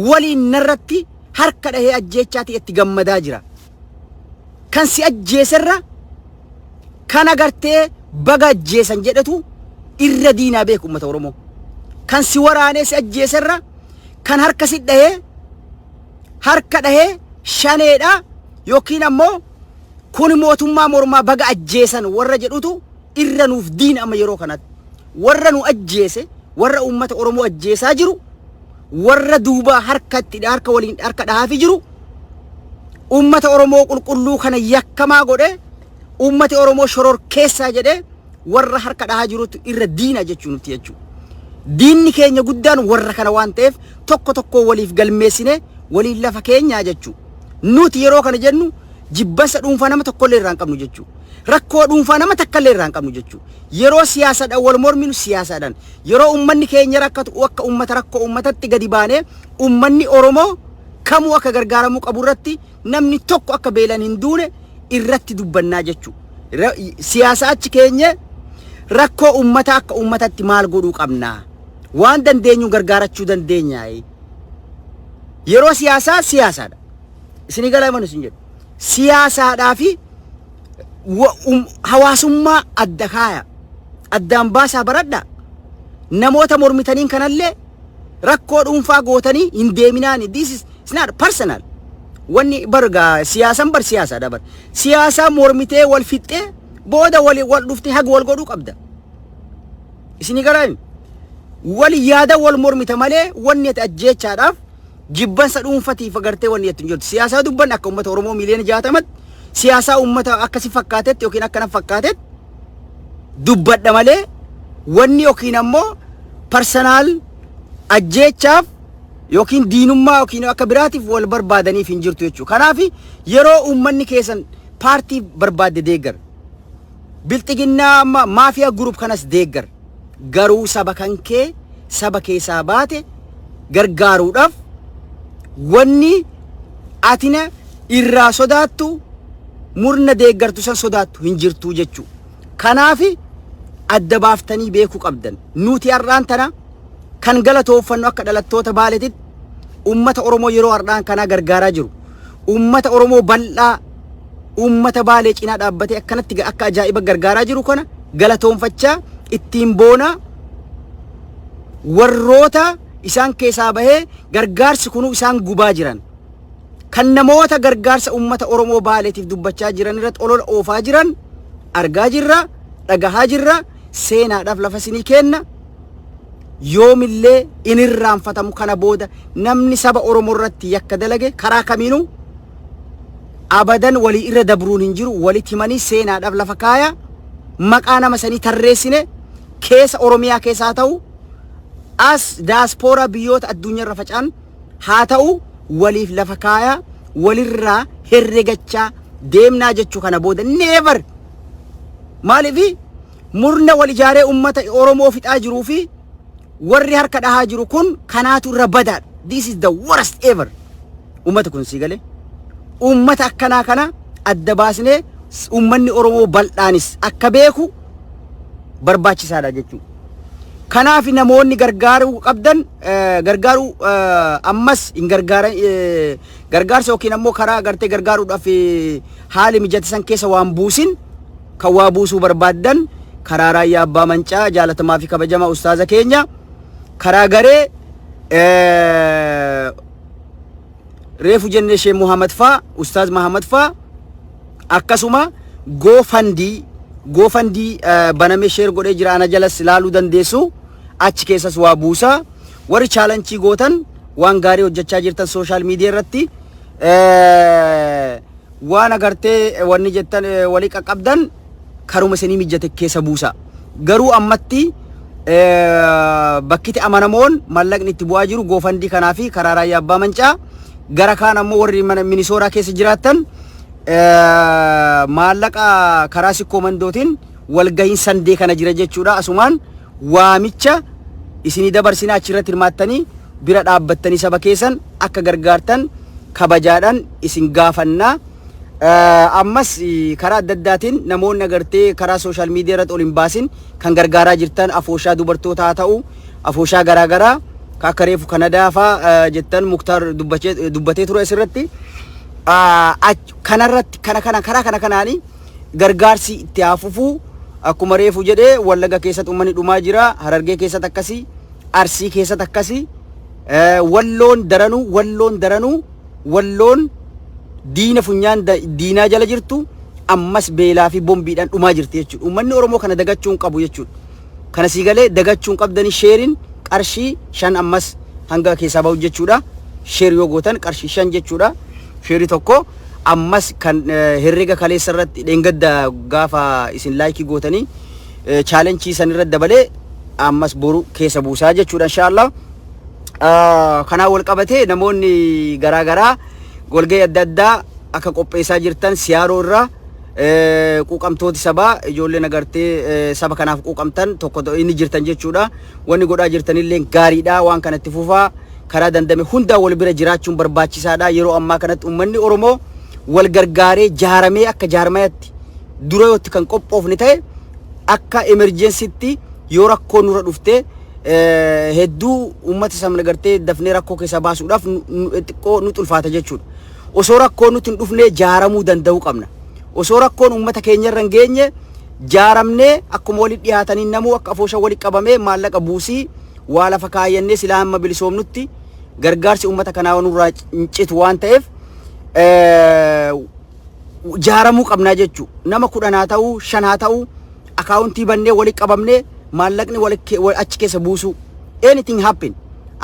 waliin narratti harka dhahee ajjeechaatii itti gammadaa jira. kan si ajjeeserra kan agartee baga ajjeesan jedhetu irra diinaa beeku uummata Oromoo. Kan si waraanee si ajjeeserra kan harka si dhahee harka dhahee shaneedha yookiin ammoo kun mootummaa mormaa baga ajjeesan warra jedhutu irra nuuf diina amma yeroo kanatti warra nu ajjeese warra uummata Oromoo ajjeesaa jiru warra duubaa harkatti harka waliin harka dhahaafi jiru uummata Oromoo qulqulluu kana yakkamaa godhe uummati Oromoo shoror keessaa jedhe warra harka dhahaa jirutu irra diina jechuu nutti jechuudha. Diinni keenya guddaan warra kana waan ta'eef tokko tokko waliif galmeessine waliin lafa keenyaa jechuudha. Nuti yeroo kana jennu jibbansa dhuunfaa nama tokkollee irraa hin qabnu jechuudha. Rakkoo dhuunfaa nama takkallee irraa hin qabnu jechuudha. Yeroo siyaasadhaan wal morminu siyaasadhaan, yeroo uummanni keenya rakkatu akka uummata rakkoo uummatatti gadi baanee uummanni Oromoo kamuu akka gargaaramuu qabu irratti namni tokko akka beelan hin duune irratti dubbannaa jechuudha. Ra- Siyaasa achi keenyee rakkoo uummataa akka uummatatti maal godhuu qabnaa? Waan dandeenyu gargaarachuu dandeenyaa? Yeroo siyaasaa siyaasaadha. Isinii galaa imanu isin jedhu. siyaasaadhaa fi wa- um- hawaasummaa adda kaaya. Addaan baasaa baradha. Namoota mormitaniin kanallee rakkoo dhuunfaa gootanii hin deeminaani. This is it's not personal. Wanni bargaa siyaasan bar siyaasaadha bar. Siyaasaa mormitee wal fixxee booda wal wal dhuftee haga wal godhuu qabda. Isinii garaami. Wal yaada wal mormita malee wanni ati ajjeechaadhaaf Jibbansa dhuunfatiif agartee wanni jettu hin jirtu. Siyaasaa dubbanne akka uummata Oromoo miiliyoona jaatamatti siyaasaa uummata akka si fakkaatetti yookiin akka na fakkaatetti dubbadha malee wanni yookiin ammoo parsanaal ajjeechaaf yookiin diinummaa yookiin akka biraatiif wal barbaadaniif hin jirtu jechuudha. Kanaaf yeroo uummanni keessan paartii barbaadde deeggar. Bilxiginnaa amma mafia group kanas deeggar. Garuu saba kankee saba keessaa baate gargaaruudhaaf wanni atina irraa sodaattu murna deeggartu san sodaattu hin jirtuu jechuu. Kanaafi adda baaftanii beekuu qabdan. Nuti har'aan tana kan galatooffannu akka dhalattoota Baaleetitti uummata Oromoo yeroo har'aan kanaa gargaaraa jiru. Uummata Oromoo bal'aa uummata Baalee cinaa dhaabbatee akkanatti ga- akka ajaa'iba gargaaraa jiru kana galatoonfachaa ittiin boonaa warroota isaan keessaa bahee gargaarsi kunuu isaan gubaa jiran. kan namoota gargaarsa uummata Oromoo Baaleetiif dubbachaa jiran irratti olola oofaa jiran argaa jirra, dhagahaa jirra, seenaadhaaf lafa isinii kenna yoomillee in irraanfatamu kana booda namni saba Oromoo irratti yakka dalage karaa kamiinuu abadan walii irra dabruun hin jiru walitti himanii seenaadhaaf lafa kaaya maqaa nama sanii tarreessine keessa Oromiyaa keessaa ta'u as daaspooraa biyyoota addunyaa irra facaan haa ta'u waliif lafa kaaya walirraa herregachaa deemnaa jechuu kana booda never Maaliif murna wal ijaaree uummata Oromoo fixaa jiruu fi warri harka dhahaa jiru kun kanaatu irra badaadha. This is the worst ever. Uummata kun sii galee. Uummata akkanaa kana adda baasnee uummanni Oromoo bal'aanis akka beeku barbaachisaadha jechuudha. Kanaaf namoonni gargaaruu qabdan gargaaruu ammas hin gargaaran Gargaarsa yookiin ammoo karaa agartee gargaaruudhaaf haali mijate san keessa waan buusin kan waa buusuu barbaaddan karaa raayyaa abbaa mancaa jaalatamaa fi kabajamaa ustaaza keenya karaa garee reefu jennee shee Muhammad faa ustaaz Muhammad faa akkasuma goofandii goofandii banamee sheer godhee jira ana jalas ilaaluu dandeessu achi keessas waa buusaa. Warri chaalanchii gootan waan gaarii hojjechaa jirtan sooshaal miidiyaa irratti waan agartee wanni jettan walii qaqqabdan karuma isinii mijjate keessa buusa. Garuu ammatti bakkiti amanamoon mallaqni itti bu'aa jiru goofandii kanaa fi karaa raayyaa abbaa mancaa gara kaan ammoo warri mana minisooraa keessa jiraattan maallaqa karaa sikkoo mandootiin walgahiin sandee kana jira jechuudha asumaan waamicha isinii dabarsinaa achirratti hirmaattanii bira dhaabbattanii saba keessan akka gargaartan kabajaadhaan isin gaafannaa. Eh, Ammas eh, karaa adda addaatiin namoonni agartee karaa sooshaal miidiyaa irratti ol hin baasin kan gargaaraa jirtan afooshaa dubartootaa haa ta'u afooshaa garaagaraa ka akka reefu kanadaa faa eh, jettan muktaar dubbachee- dubbatee ture asirratti. Ah, ach- Kanarratti kana kana karaa kana kanaanii gargaarsi itti haa fufuu akkuma reefu jedhe wallaga keessatti uummanni dhumaa jira harargee keessatti akkasii arsii keessatti akkasii eh, walloon daranuu walloon daranuu walloon diina funyaan da- diinaa jala jirtu ammas beelaa fi bombiidhaan dhumaa jirti jechuudha uummanni oromoo kana dagachuu hin qabu jechuudha kana sii galee dagachuu hin qabdanii sheeriin qarshii shan ammas hanga keessaa bahu jechuudha sheer yoo gootan qarshii shan jechuudha sheerii tokko ammas kan herrega kaleessa irratti dheengadda gaafa isin laayikii gootanii chaalenchii san irra dabalee ammas boru keessa buusaa jechuudha inshaallah. Kanaa wal qabatee namoonni garaa garaa walgahii adda addaa akka qopheessaa jirtan siyaaroo irraa quuqamtooti sabaa ijoolleen agartee saba kanaaf quuqamtan tokko inni jirtan jechuudha. Wanni godhaa jirtanillee gaariidha waan kanatti fufaa. karaa dandame hundaan wal bira jiraachuun barbaachisaadha. Yeroo ammaa kanatti ummanni Oromoo wal gargaaree jaaramee akka jaarmayatti dura yootti kan qophoofne ta'e akka emerjensitti yoo rakkoo nurra dhufte hedduu uummata sana gartee dafnee rakkoo keessa baasuudhaaf xiqqoo nu xulfaata jechuudha. Osoo rakkoo nuti hin dhufnee jaaramuu danda'uu qabna. Osoo rakkoon uummata keenya irra hin geenye jaaramnee akkuma walitti dhiyaatanii namuu akka afoosha walitti qabamee maallaqa buusii waa lafa kaayyannee silaa hamma bilisoomnutti gargaarsi uummata kanaa nurraa hin citu waan ta'eef eh, jaaramuu qabnaa jechuu nama kudhan haa ta'uu shan haa ta'uu akaawuntii bannee wali qabamnee maallaqni wali ke- wa- achi keessa buusuu anything happen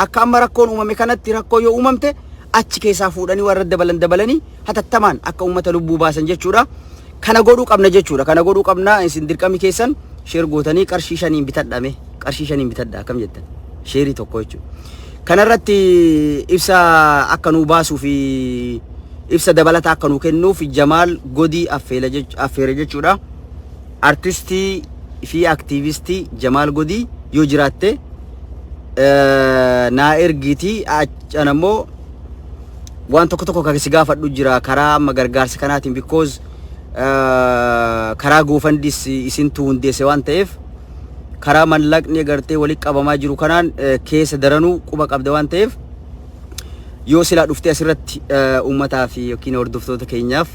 akka amma rakkoon uumame kanatti rakkoo yoo uumamte achi keessaa fuudhanii warra dabalan dabalanii hatattamaan akka uummata lubbuu baasan jechuudha. Kana godhuu qabna jechuudha. Kana godhuu qabna isin dirqami keessan sheer gootanii qarshii shaniin bitadha mee qarshii shaniin bitadha akkam jettan sheerii tokko jechuudha. Kanarratti ibsa akka nuu baasuu fi ibsa dabalata akka nuu kennuuf Jamaal Godii affeela jech- affeere jechuudha. Artistii fi aktiivistii Jamaal Godii yoo jiraatte eh, naa ergiitii achan ammoo waan tokko tokko kan si gaafadhu jira karaa amma gargaarsa kanaatiin because eh, karaa goofandis isintu hundeesse waan ta'eef karaa mallaqni gartee walitti qabamaa jiru kanaan eh, keessa daranuu quba qabda waan ta'eef yoo silaa dhuftee asirratti eh, uummataa fi yookiin hordoftoota keenyaaf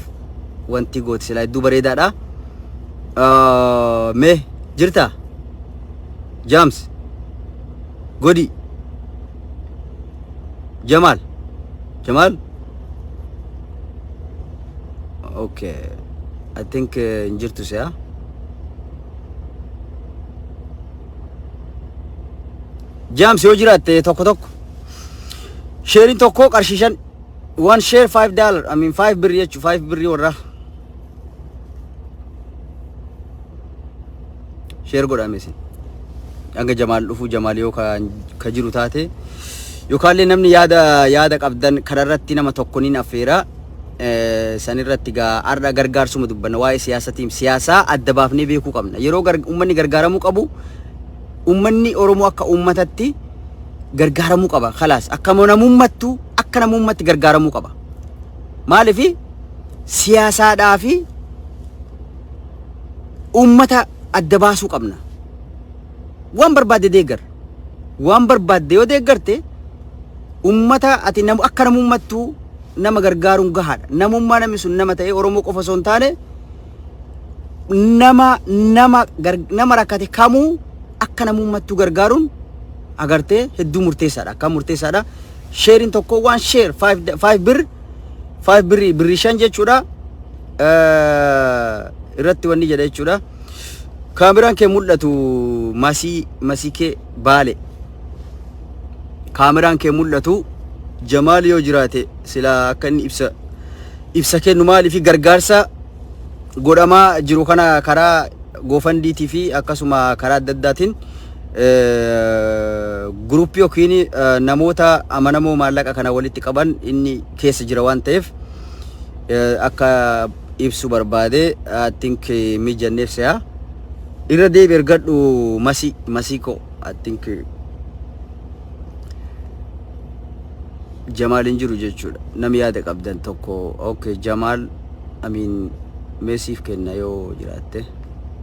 wanti goote silaa hedduu bareedaadha. Eh, Mee jirta? Jaams? Godii? Jamaal. Jamaal. Okay. I think uh, hin jirtu si'a. Jaams yoo jiraatte tokko tokko. Sheeriin tokko qarshii shan. One share five dollar. I mean five birri jechuun five birri warraa. sheer godhaame isin hanga jamaal dhufu jamaal yoo ka jiru taate yookaallee namni yaada yaada qabdan kanarratti nama tokko niin affeera sanirratti gaa har'a gargaarsuma dubbanna waa'ee siyaasatiim siyaasaa adda baafnee beekuu qabna yeroo uummanni gargaaramuu qabu uummanni Oromoo akka uummatatti gargaaramuu qaba kalaas akka namummattu akka namummatti gargaaramuu qaba Maaliif siyaasaadhaa fi uummata adda baasuu qabna. Waan barbaadde deeggar. Waan barbaadde yoo deeggarte uummata ati namu akka namummattuu nama gargaaruun gahaadha. Namummaa namni sun nama ta'ee Oromoo qofa osoo hin taane nama nama gar- nama rakkate kamuu akka namummattuu gargaaruun agartee hedduu murteessaadha. Akka murteessaadha. sheerin tokko waan sheer 5 birr 5 birri birri shan jechuudha irratti wanni jedha jechuudha kaameraan kee mul'atu masii masii kee baale kaameraan kee mul'atu jamaal yoo jiraate sila akka inni ibsa ibsa kennu maaliif gargaarsa godhamaa jiru kana karaa goofandiitii fi akkasuma karaa adda addaatiin guruppii yookiin namoota amanamoo maallaqa kana walitti qaban inni keessa jira waan ta'eef akka ibsu barbaade tink mijanneef se'a. Irra deebi ergadhu masii masii koo tink Jamaal hin jiru jechuudha. Nam yaada qabdan tokko okay Jamaal amiin meesiif kenna yoo jiraatte.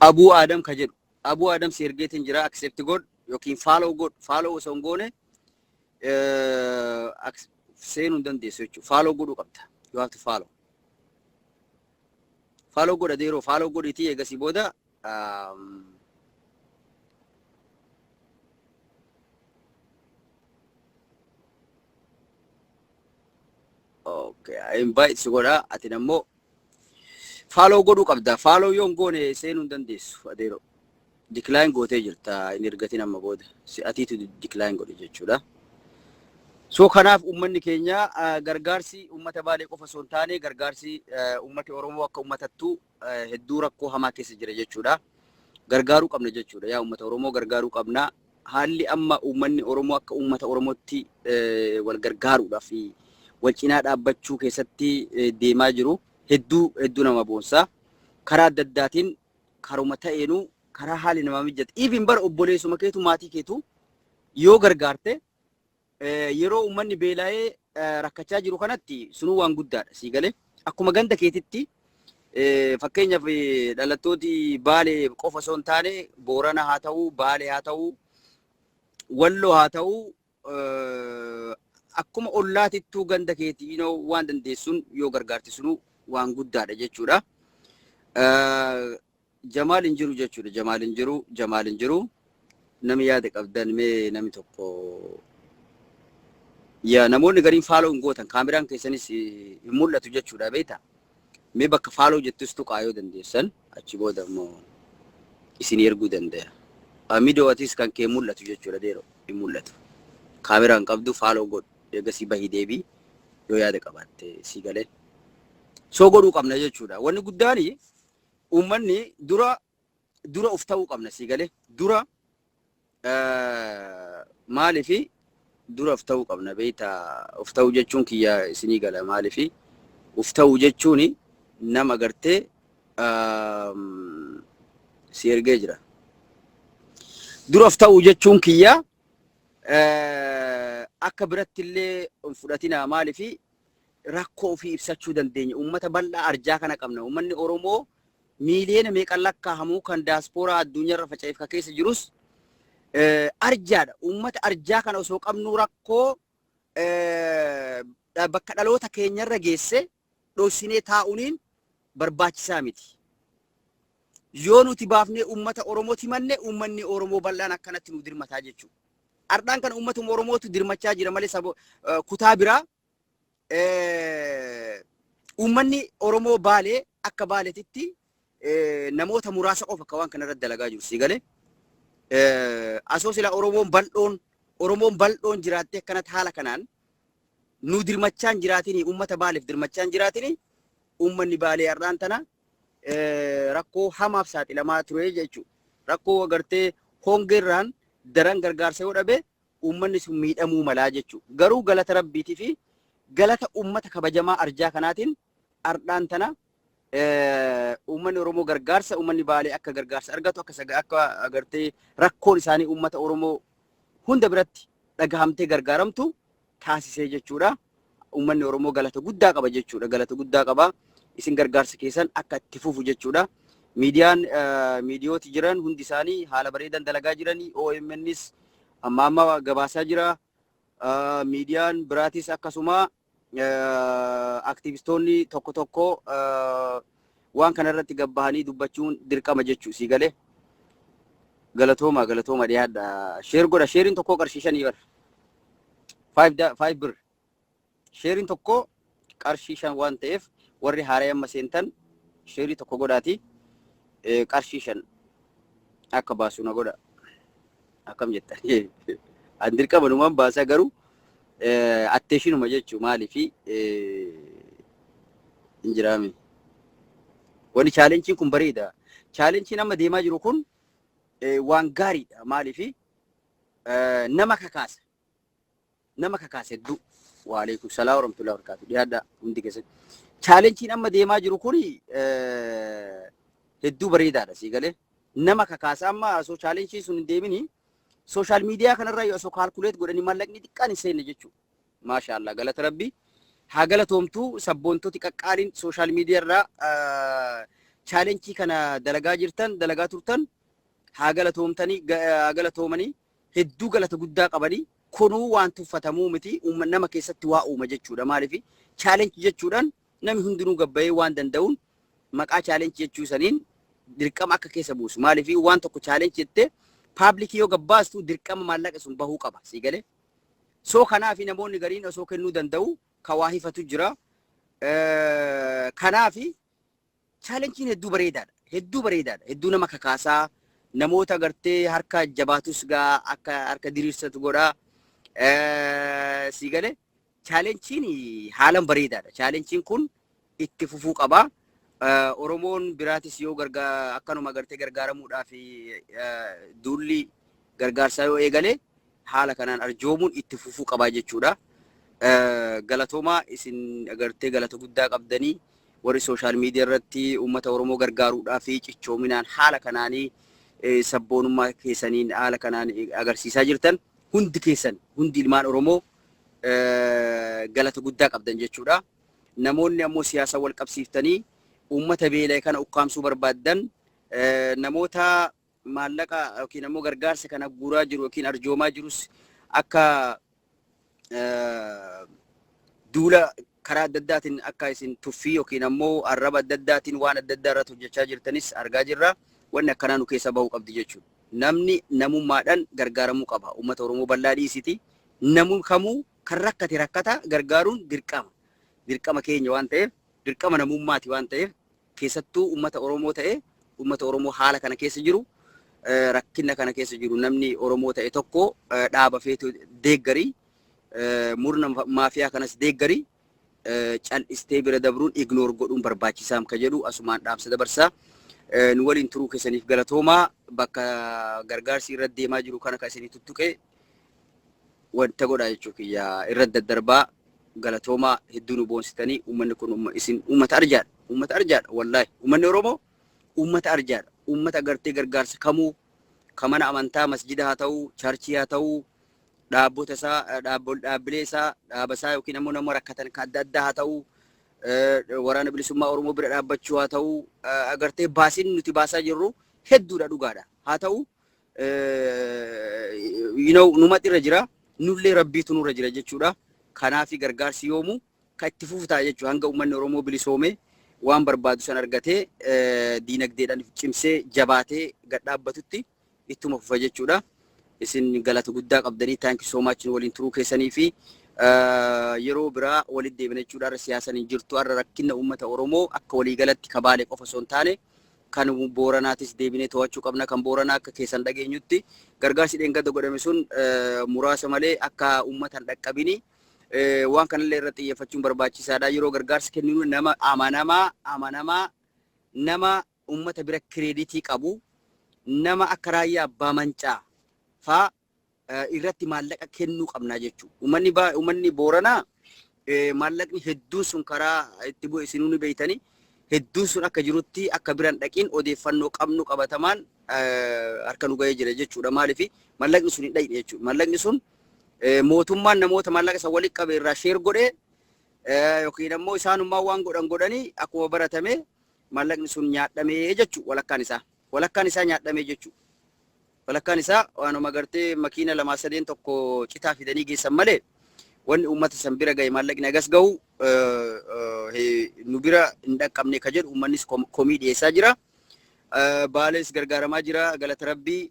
Abuu Aadam ka jedhu. Abuu Aadam si ergeetiin jira accept godh yookiin follow godh. Follow osoo hin goone seenuu hin dandeessu jechuudha. Follow godhuu qabda. You have to follow. Follow godha deeroo follow godhiitii eegasii booda Okay, invite si godha atin ammoo Faaloo godhuu qabda. Faaloo yoo hin goone seenuu hin dandeessu adeeroo. Decline gootee jirta hin ergatin amma booda. Si atiitu decline godhe jechuudha. So kanaaf uummanni keenya ah, gargaarsi uummata baalee qofa osoo hin taane gargaarsi ah, uummati Oromoo akka uummatattu ah, hedduu rakkoo hamaa keessa jira jechuudha. Gargaaruu qabna jechuudha. Yaa uummata Oromoo gargaaruu qabna. Haalli amma uummanni Oromoo akka uummata Oromootti wal gargaaruudhaaf wal cinaa dhaabbachuu keessatti deemaa jiru hedduu hedduu nama boonsa. Karaa adda addaatiin karuma ta'eenuu karaa haalli namaa mijjate even bara obboleessuma keetu maatii keetu yoo gargaarte Yeroo uummanni beela'ee rakkachaa jiru kanatti sunuu waan guddaadha sii galee. Akkuma ganda keetitti fakkeenyaaf dhalattooti Baalee qofa osoo hin taane Boorana haa ta'u, Baalee haa ta'u, Walloo haa ta'u akkuma ollaatittuu ganda keetii you know, waan dandeessuun yoo gargaarte sunuu waan guddaadha jechuudha. Jamaal hin jiru jechuudha. Jamaal hin jiru. Jamaal hin jiru. Nami yaada qabdan mee nami tokko yaa namoonni gariin faaloo hin gootan kaameraan keessanis eh, hin mul'atu jechuudha beekta. Mee bakka faaloo jettus tuqaa yoo dandeessan achi booda immoo isin erguu danda'a. Amidoo atis kan kee mul'atu jechuudha deeroo hin mul'atu. Kaameraa hin qabdu faaloo godhu eegasii bahii deebii yoo yaada qabaatte sii galee. Soo godhuu qabna jechuudha. Wanni guddaani Uummanni dura dura of ta'uu qabna sii galee dura maaliifi dura of ta'uu qabna beekta of ta'uu jechuun kiyya isinii gala maaliifi of ta'uu jechuun nama gartee si ergee jira. Dura of ta'uu jechuun kiyya akka biratti illee hin fudhatinaa maaliifi rakkoo ofii ibsachuu dandeenya. Uummata bal'aa arjaa kana qabna. Uummanni Oromoo miiliyoona meeqan lakkaa'amu kan daaspooraa addunyaarra faca'eef kan keessa jirus eh, arjaadha. Uummata arjaa kana osoo qabnuu rakkoo eh, dha- bakka dhaloota keenyarra geesse dhoksinee taa'uuniin barbaachisaa miti. Yoo nuti baafnee uummata Oromooti manne uummanni Oromoo bal'aan akkanatti nu dirmataa jechuudha. Ardhaan kana uummatuma Oromootu dirmachaa jira malee saba kutaa biraa uummanni Oromoo baalee akka baaletitti namoota muraasa qofa akka waan kana irratti dalagaa jiru sii galee. Asoo sila Oromoon bal'oon Oromoon bal'oon jiraattee akkanatti haala kanaan nu dirmachaan jiraatini uummata baaleef dirmachaan jiraatini uummanni baalee har'aan tana rakkoo hamaaf saaxilamaa ture jechuudha. Rakkoo agartee hongeerraan daran gargaarsa yoo dhabe uummanni sun miidhamuu malaa jechuudha. Garuu galata rabbiitii fi galata uummata kabajamaa arjaa kanaatiin ardhaan tana uummanni Oromoo gargaarsa uummanni baalee akka gargaarsa argatu akka akka agartee rakkoon isaanii uummata Oromoo hunda biratti dhagahamtee gargaaramtu taasisee jechuudha. Uummanni Oromoo galata guddaa qaba jechuudha. Galata guddaa qaba. Isin gargaarsa keessan akka itti fufu jechuudha. Miidiyaan miidiyooti jiran hundi isaanii haala bareedan dalagaa jiranii OMNs amma amma gabaasaa jira. Miidiyaan biraatis akkasuma aktiivistoonni tokko tokko waan kana irratti gabbahanii dubbachuun dirqama jechuu sii galee galatooma galatooma dhiyaadha sheer godha sheeriin tokkoo qarshii shanii bar five da- five bir sheeriin tokkoo qarshii shan waan ta'eef warri haaree amma seentan sheerii tokko godhaati eh, qarshii shan akka baasu na godha akkam jettan an dirqama numan baasa garuu atteeshinuma jechuu maaliif hin jiraame wani chaalenchiin kun bareeda chaalenchiin amma deemaa jiru kun waan gaariidha maaliif nama kakaasa nama kakaase hedduu. Waalaikum salaam warahmatullahi wabarakatuh. Dhiyaadhaa hundi keessan. Chaalenchiin amma deemaa jiru kun hedduu bareedaadha sii galee. Nama kakaasa amma osoo chaalenchiin sun hin deemini sooshaal miidiyaa kanarraa yoo osoo kaalkuleet godhanii mallaqni xiqqaan hin seenne jechuudha. Maashaa Allah galata rabbii. Haa galatoomtuu sabboontoti qaqqaaliin sooshaal miidiyaarraa chaalenchii kana dalagaa jirtan dalagaa turtan haa galatoomtanii haa galatoomanii hedduu galata guddaa qabanii kunuu waan tuffatamuu miti uumma- nama keessatti waa uuma jechuudha maaliif chaalenchi jechuudhaan namni hundinuu gabbayee waan danda'uun maqaa chaalenchi jechuu saniin dirqama akka keessa buusu maaliif waan tokko chaalenchi jettee paablikii yoo gabbaastu dirqama maallaqa sun bahuu qaba sii galee soo kanaaf namoonni gariin osoo kennuu danda'u ka waa hifatu jira Eh, kanaaf Chaalenjiin hedduu bareedaadha. Hedduu bareedaadha. Hedduu nama kakaasa. Namoota gartee harka jabaatus gaa akka harka diriirsatu godha. Eh, Sii galee chaalenjiin haalan bareedaadha. Chaalenjiin kun itti fufuu qaba. Eh, Oromoon biraatis yoo gargaa akkanuma gartee gargaaramuudhaaf eh, duulli gargaarsaa yoo eegale haala kanaan arjoomuun itti fufuu qabaa jechuudha. Galatoomaa isin agartee galata guddaa qabdanii warri sooshaal miidiyaa irratti uummata Oromoo gargaaruudhaa fi cichoominaan haala kanaanii sabboonummaa keessaniin haala kanaan agarsiisaa jirtan hundi keessan hundi ilmaan Oromoo galata guddaa qabdan jechuudha. Namoonni ammoo siyaasa wal qabsiiftanii uummata beela'e kana ukkaamsuu barbaaddan namoota maallaqa yookiin ammoo gargaarsa kana guuraa jiru yookiin arjoomaa jirus akka duula karaa adda addaatiin akka isin tuffii yookiin ammoo arraba adda addaatiin waan adda addaa irratti hojjechaa jirtanis argaa jirra. Wanni akkanaa nu keessa bahuu qabdi jechuudha. Namni namummaadhaan gargaaramuu qaba. Uummata Oromoo bal'aa dhiisiti. Namni kamuu kan rakkate rakkata gargaaruun dirqama. Dirqama keenya waan ta'eef dirqama namummaati waan ta'eef Keessattuu ummata Oromoo ta'e, ummata Oromoo haala kana keessa jiru, rakkinna kana keessa jiru namni Oromoo ta'e tokko dhaaba feetu deeggari, murna maafiyaa kanas deeggari, cal'istee bira dabruun, ignore godhuun barbaachisaam ka jedhu asumaan dhaamsa dabarsa. Nu waliin turuu keessaniif galatoomaa. Bakka gargaarsi irra deemaa jiru kana ka isinii tuttuqe. wanta godhaa jechuu kiyya irra daddarbaa galatoomaa hedduu nu boonsitanii uummanni kun umma- isin uummata arjaadha uummata arjaadha wallaahi uummanni oromoo uummata arjaadha uummata agartee gargaarsa kamuu ka mana amantaa masjida haa ta'uu chaarchii haa ta'uu dhaabbota isaa dhaabbo- dhaabbilee isaa dhaaba isaa yookiin ammoo nama rakkatan ka adda addaa haa ta'uu eh, waraana bilisummaa oromoo bira dhaabbachuu haa ta'uu eh, agartee baasiin nuti baasaa jirru hedduudha dhugaadha haa ta'uu you know, numatti irra jira nullee rabbiitu nurra jira jechuudha. Kanaafi gargaarsi yoomuu kan itti fufu ta'a jechuudha. Hanga uummanni Oromoo bilisoomee waan barbaadu san argatee eh, diinagdeedhaan if cimsee jabaatee gad dhaabbatutti ittuma fufa jechuudha. Isin galata guddaa qabdanii thank you so much nu waliin turuu keessanii fi eh, yeroo biraa walitti deebina jechuudha. Har'a siyaasaan hin jirtu. Har'a rakkina uummata Oromoo akka waliigalatti kabaalee qofa osoo hin taane kan Booranaatis deebinee to'achuu qabna, kan Booranaa akka keessan dhageenyutti gargaarsi dheengadda godhame sun muraasa malee akka uummata hin dhaqqabini. Waan kanallee irratti xiyyeeffachuun barbaachisaadha. Yeroo gargaarsa kenninu nama amanamaa amanamaa nama uummata bira kireeditii qabu nama akka raayyaa abbaa mancaa faa irratti maallaqa kennuu qabnaa jechuu. Uummanni baa uummanni Booranaa maallaqni hedduun sun karaa itti bu'e isinuu ni beeytanii hedduun sun akka jirutti akka biran dhaqiin odeeffannoo qabnu qabatamaan harka nu ga'ee jira jechuudha. Maaliif maallaqni sun hin dhaqne jechuudha. Maallaqni sun mootummaan namoota maallaqa isa walitti qabe irraa sheer godhee yookiin ammoo isaanummaa waan godhan godhanii akkuma baratame maallaqni sun nyaadhamee jechuudha walakkaan isaa. Walakkaan isaa nyaadhamee jechuudha. Walakkaan isaa waanuma gartee makiina lamaa sadeen tokko citaa fidanii geessan malee wanni uummata san bira gahe maallaqni hagas gahu nu bira hin dhaqqabne ka jedhu uummannis komii dhiyeessaa jira. Baalees gargaaramaa jira galata rabbii.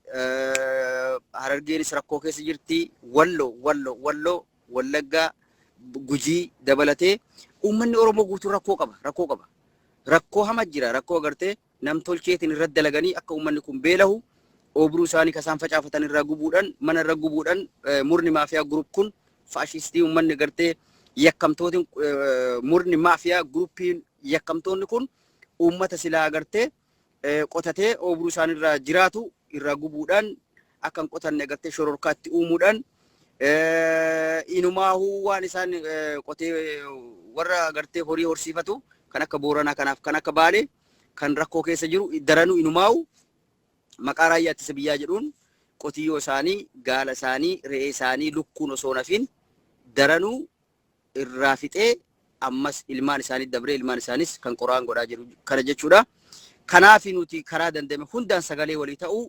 Harargeenis rakkoo keessa jirti. Wallo wallo wallo wallaggaa gujii dabalatee uummanni Oromoo guutuu rakkoo qaba rakkoo qaba. Rakkoo hama jira rakkoo gartee namtolcheetiin irratti dalaganii akka uummanni kun beelahu oobruu isaanii kasaan facaafatan irraa gubuudhan mana irra gubuudhan murni maafiyaa gurup kun faashistii uummanni gartee yakkamtootiin murni maafiyaa gurupiin yakkamtoonni kun uummata silaa agartee qotatee oobruu isaanii irraa jiraatu irraa gubuudhaan akkan qotanne agartee shororkaatti uumuudhaan inumaahuu waan isaan qotee warra agartee horii horsiifatu kan akka booranaa kanaaf kan akka baalee kan rakkoo keessa jiru daranuu inumaa'u maqaa raayyaa ittisa biyyaa jedhuun qotiyyoo isaanii, gaala isaanii, re'ee isaanii lukkuun osoo hin hafiin daranuu irraa fixee ammas ilmaan isaanii dabree ilmaan isaanis kan qoraan godhaa jiru kana jechuudha. Kanaaf nuti karaa danda'ame hundaan sagalee walii ta'uu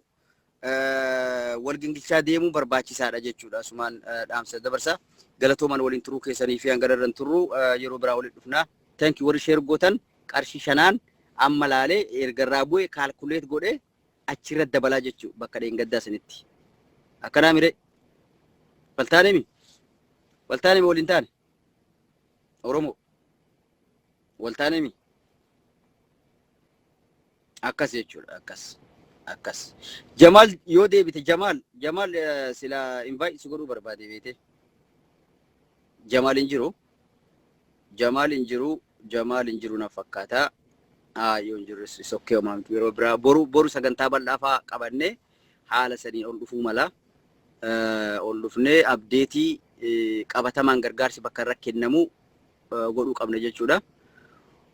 wal gingilchaa deemuu barbaachisaadha jechuudha. Asumaan dhaamsa dabarsa. Galatooman waliin turuu keessanii fi hanga irra turru yeroo biraa walitti dhufna. Thank you warri sheer gootan qarshii shanaan amma laalee ergarraa bu'e kaalkuleet godhee achirra dabalaa jechuudha bakka dheengaddaa sanitti. Akkanaa miree. Waltaanemi. Waltaanemi waliin taane. Oromoo. Waltaanemi. Akkas jechuudha akkas akkas. Jamaal yoo deebite Jamaal Jamaal eh, sila invite si godhuu barbaade beete. Jamaal hin jiru. Jamaal hin jiru. Jamaal hin jiru na fakkaata. Haa yoo hin jirres is okay homaa miti yeroo biraa boru boru sagantaa bal'aa fa'aa qabannee haala saniin ol dhufuu mala. Eh, Ol dhufnee abdeetii eh, qabatamaan gargaarsi bakka irra kennamu godhuu qabna jechuudha.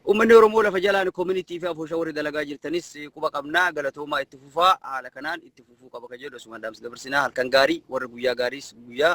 Uummanni Oromoo lafa jalaan koominitii fi afooshaa warri dalagaa jirtanis quba qabna galatoomaa itti fufaa haala kanaan itti fufuu qaba kan jedhu asumaan dhaamsa dabarsinaa halkan gaarii warri guyyaa gaariis guyyaa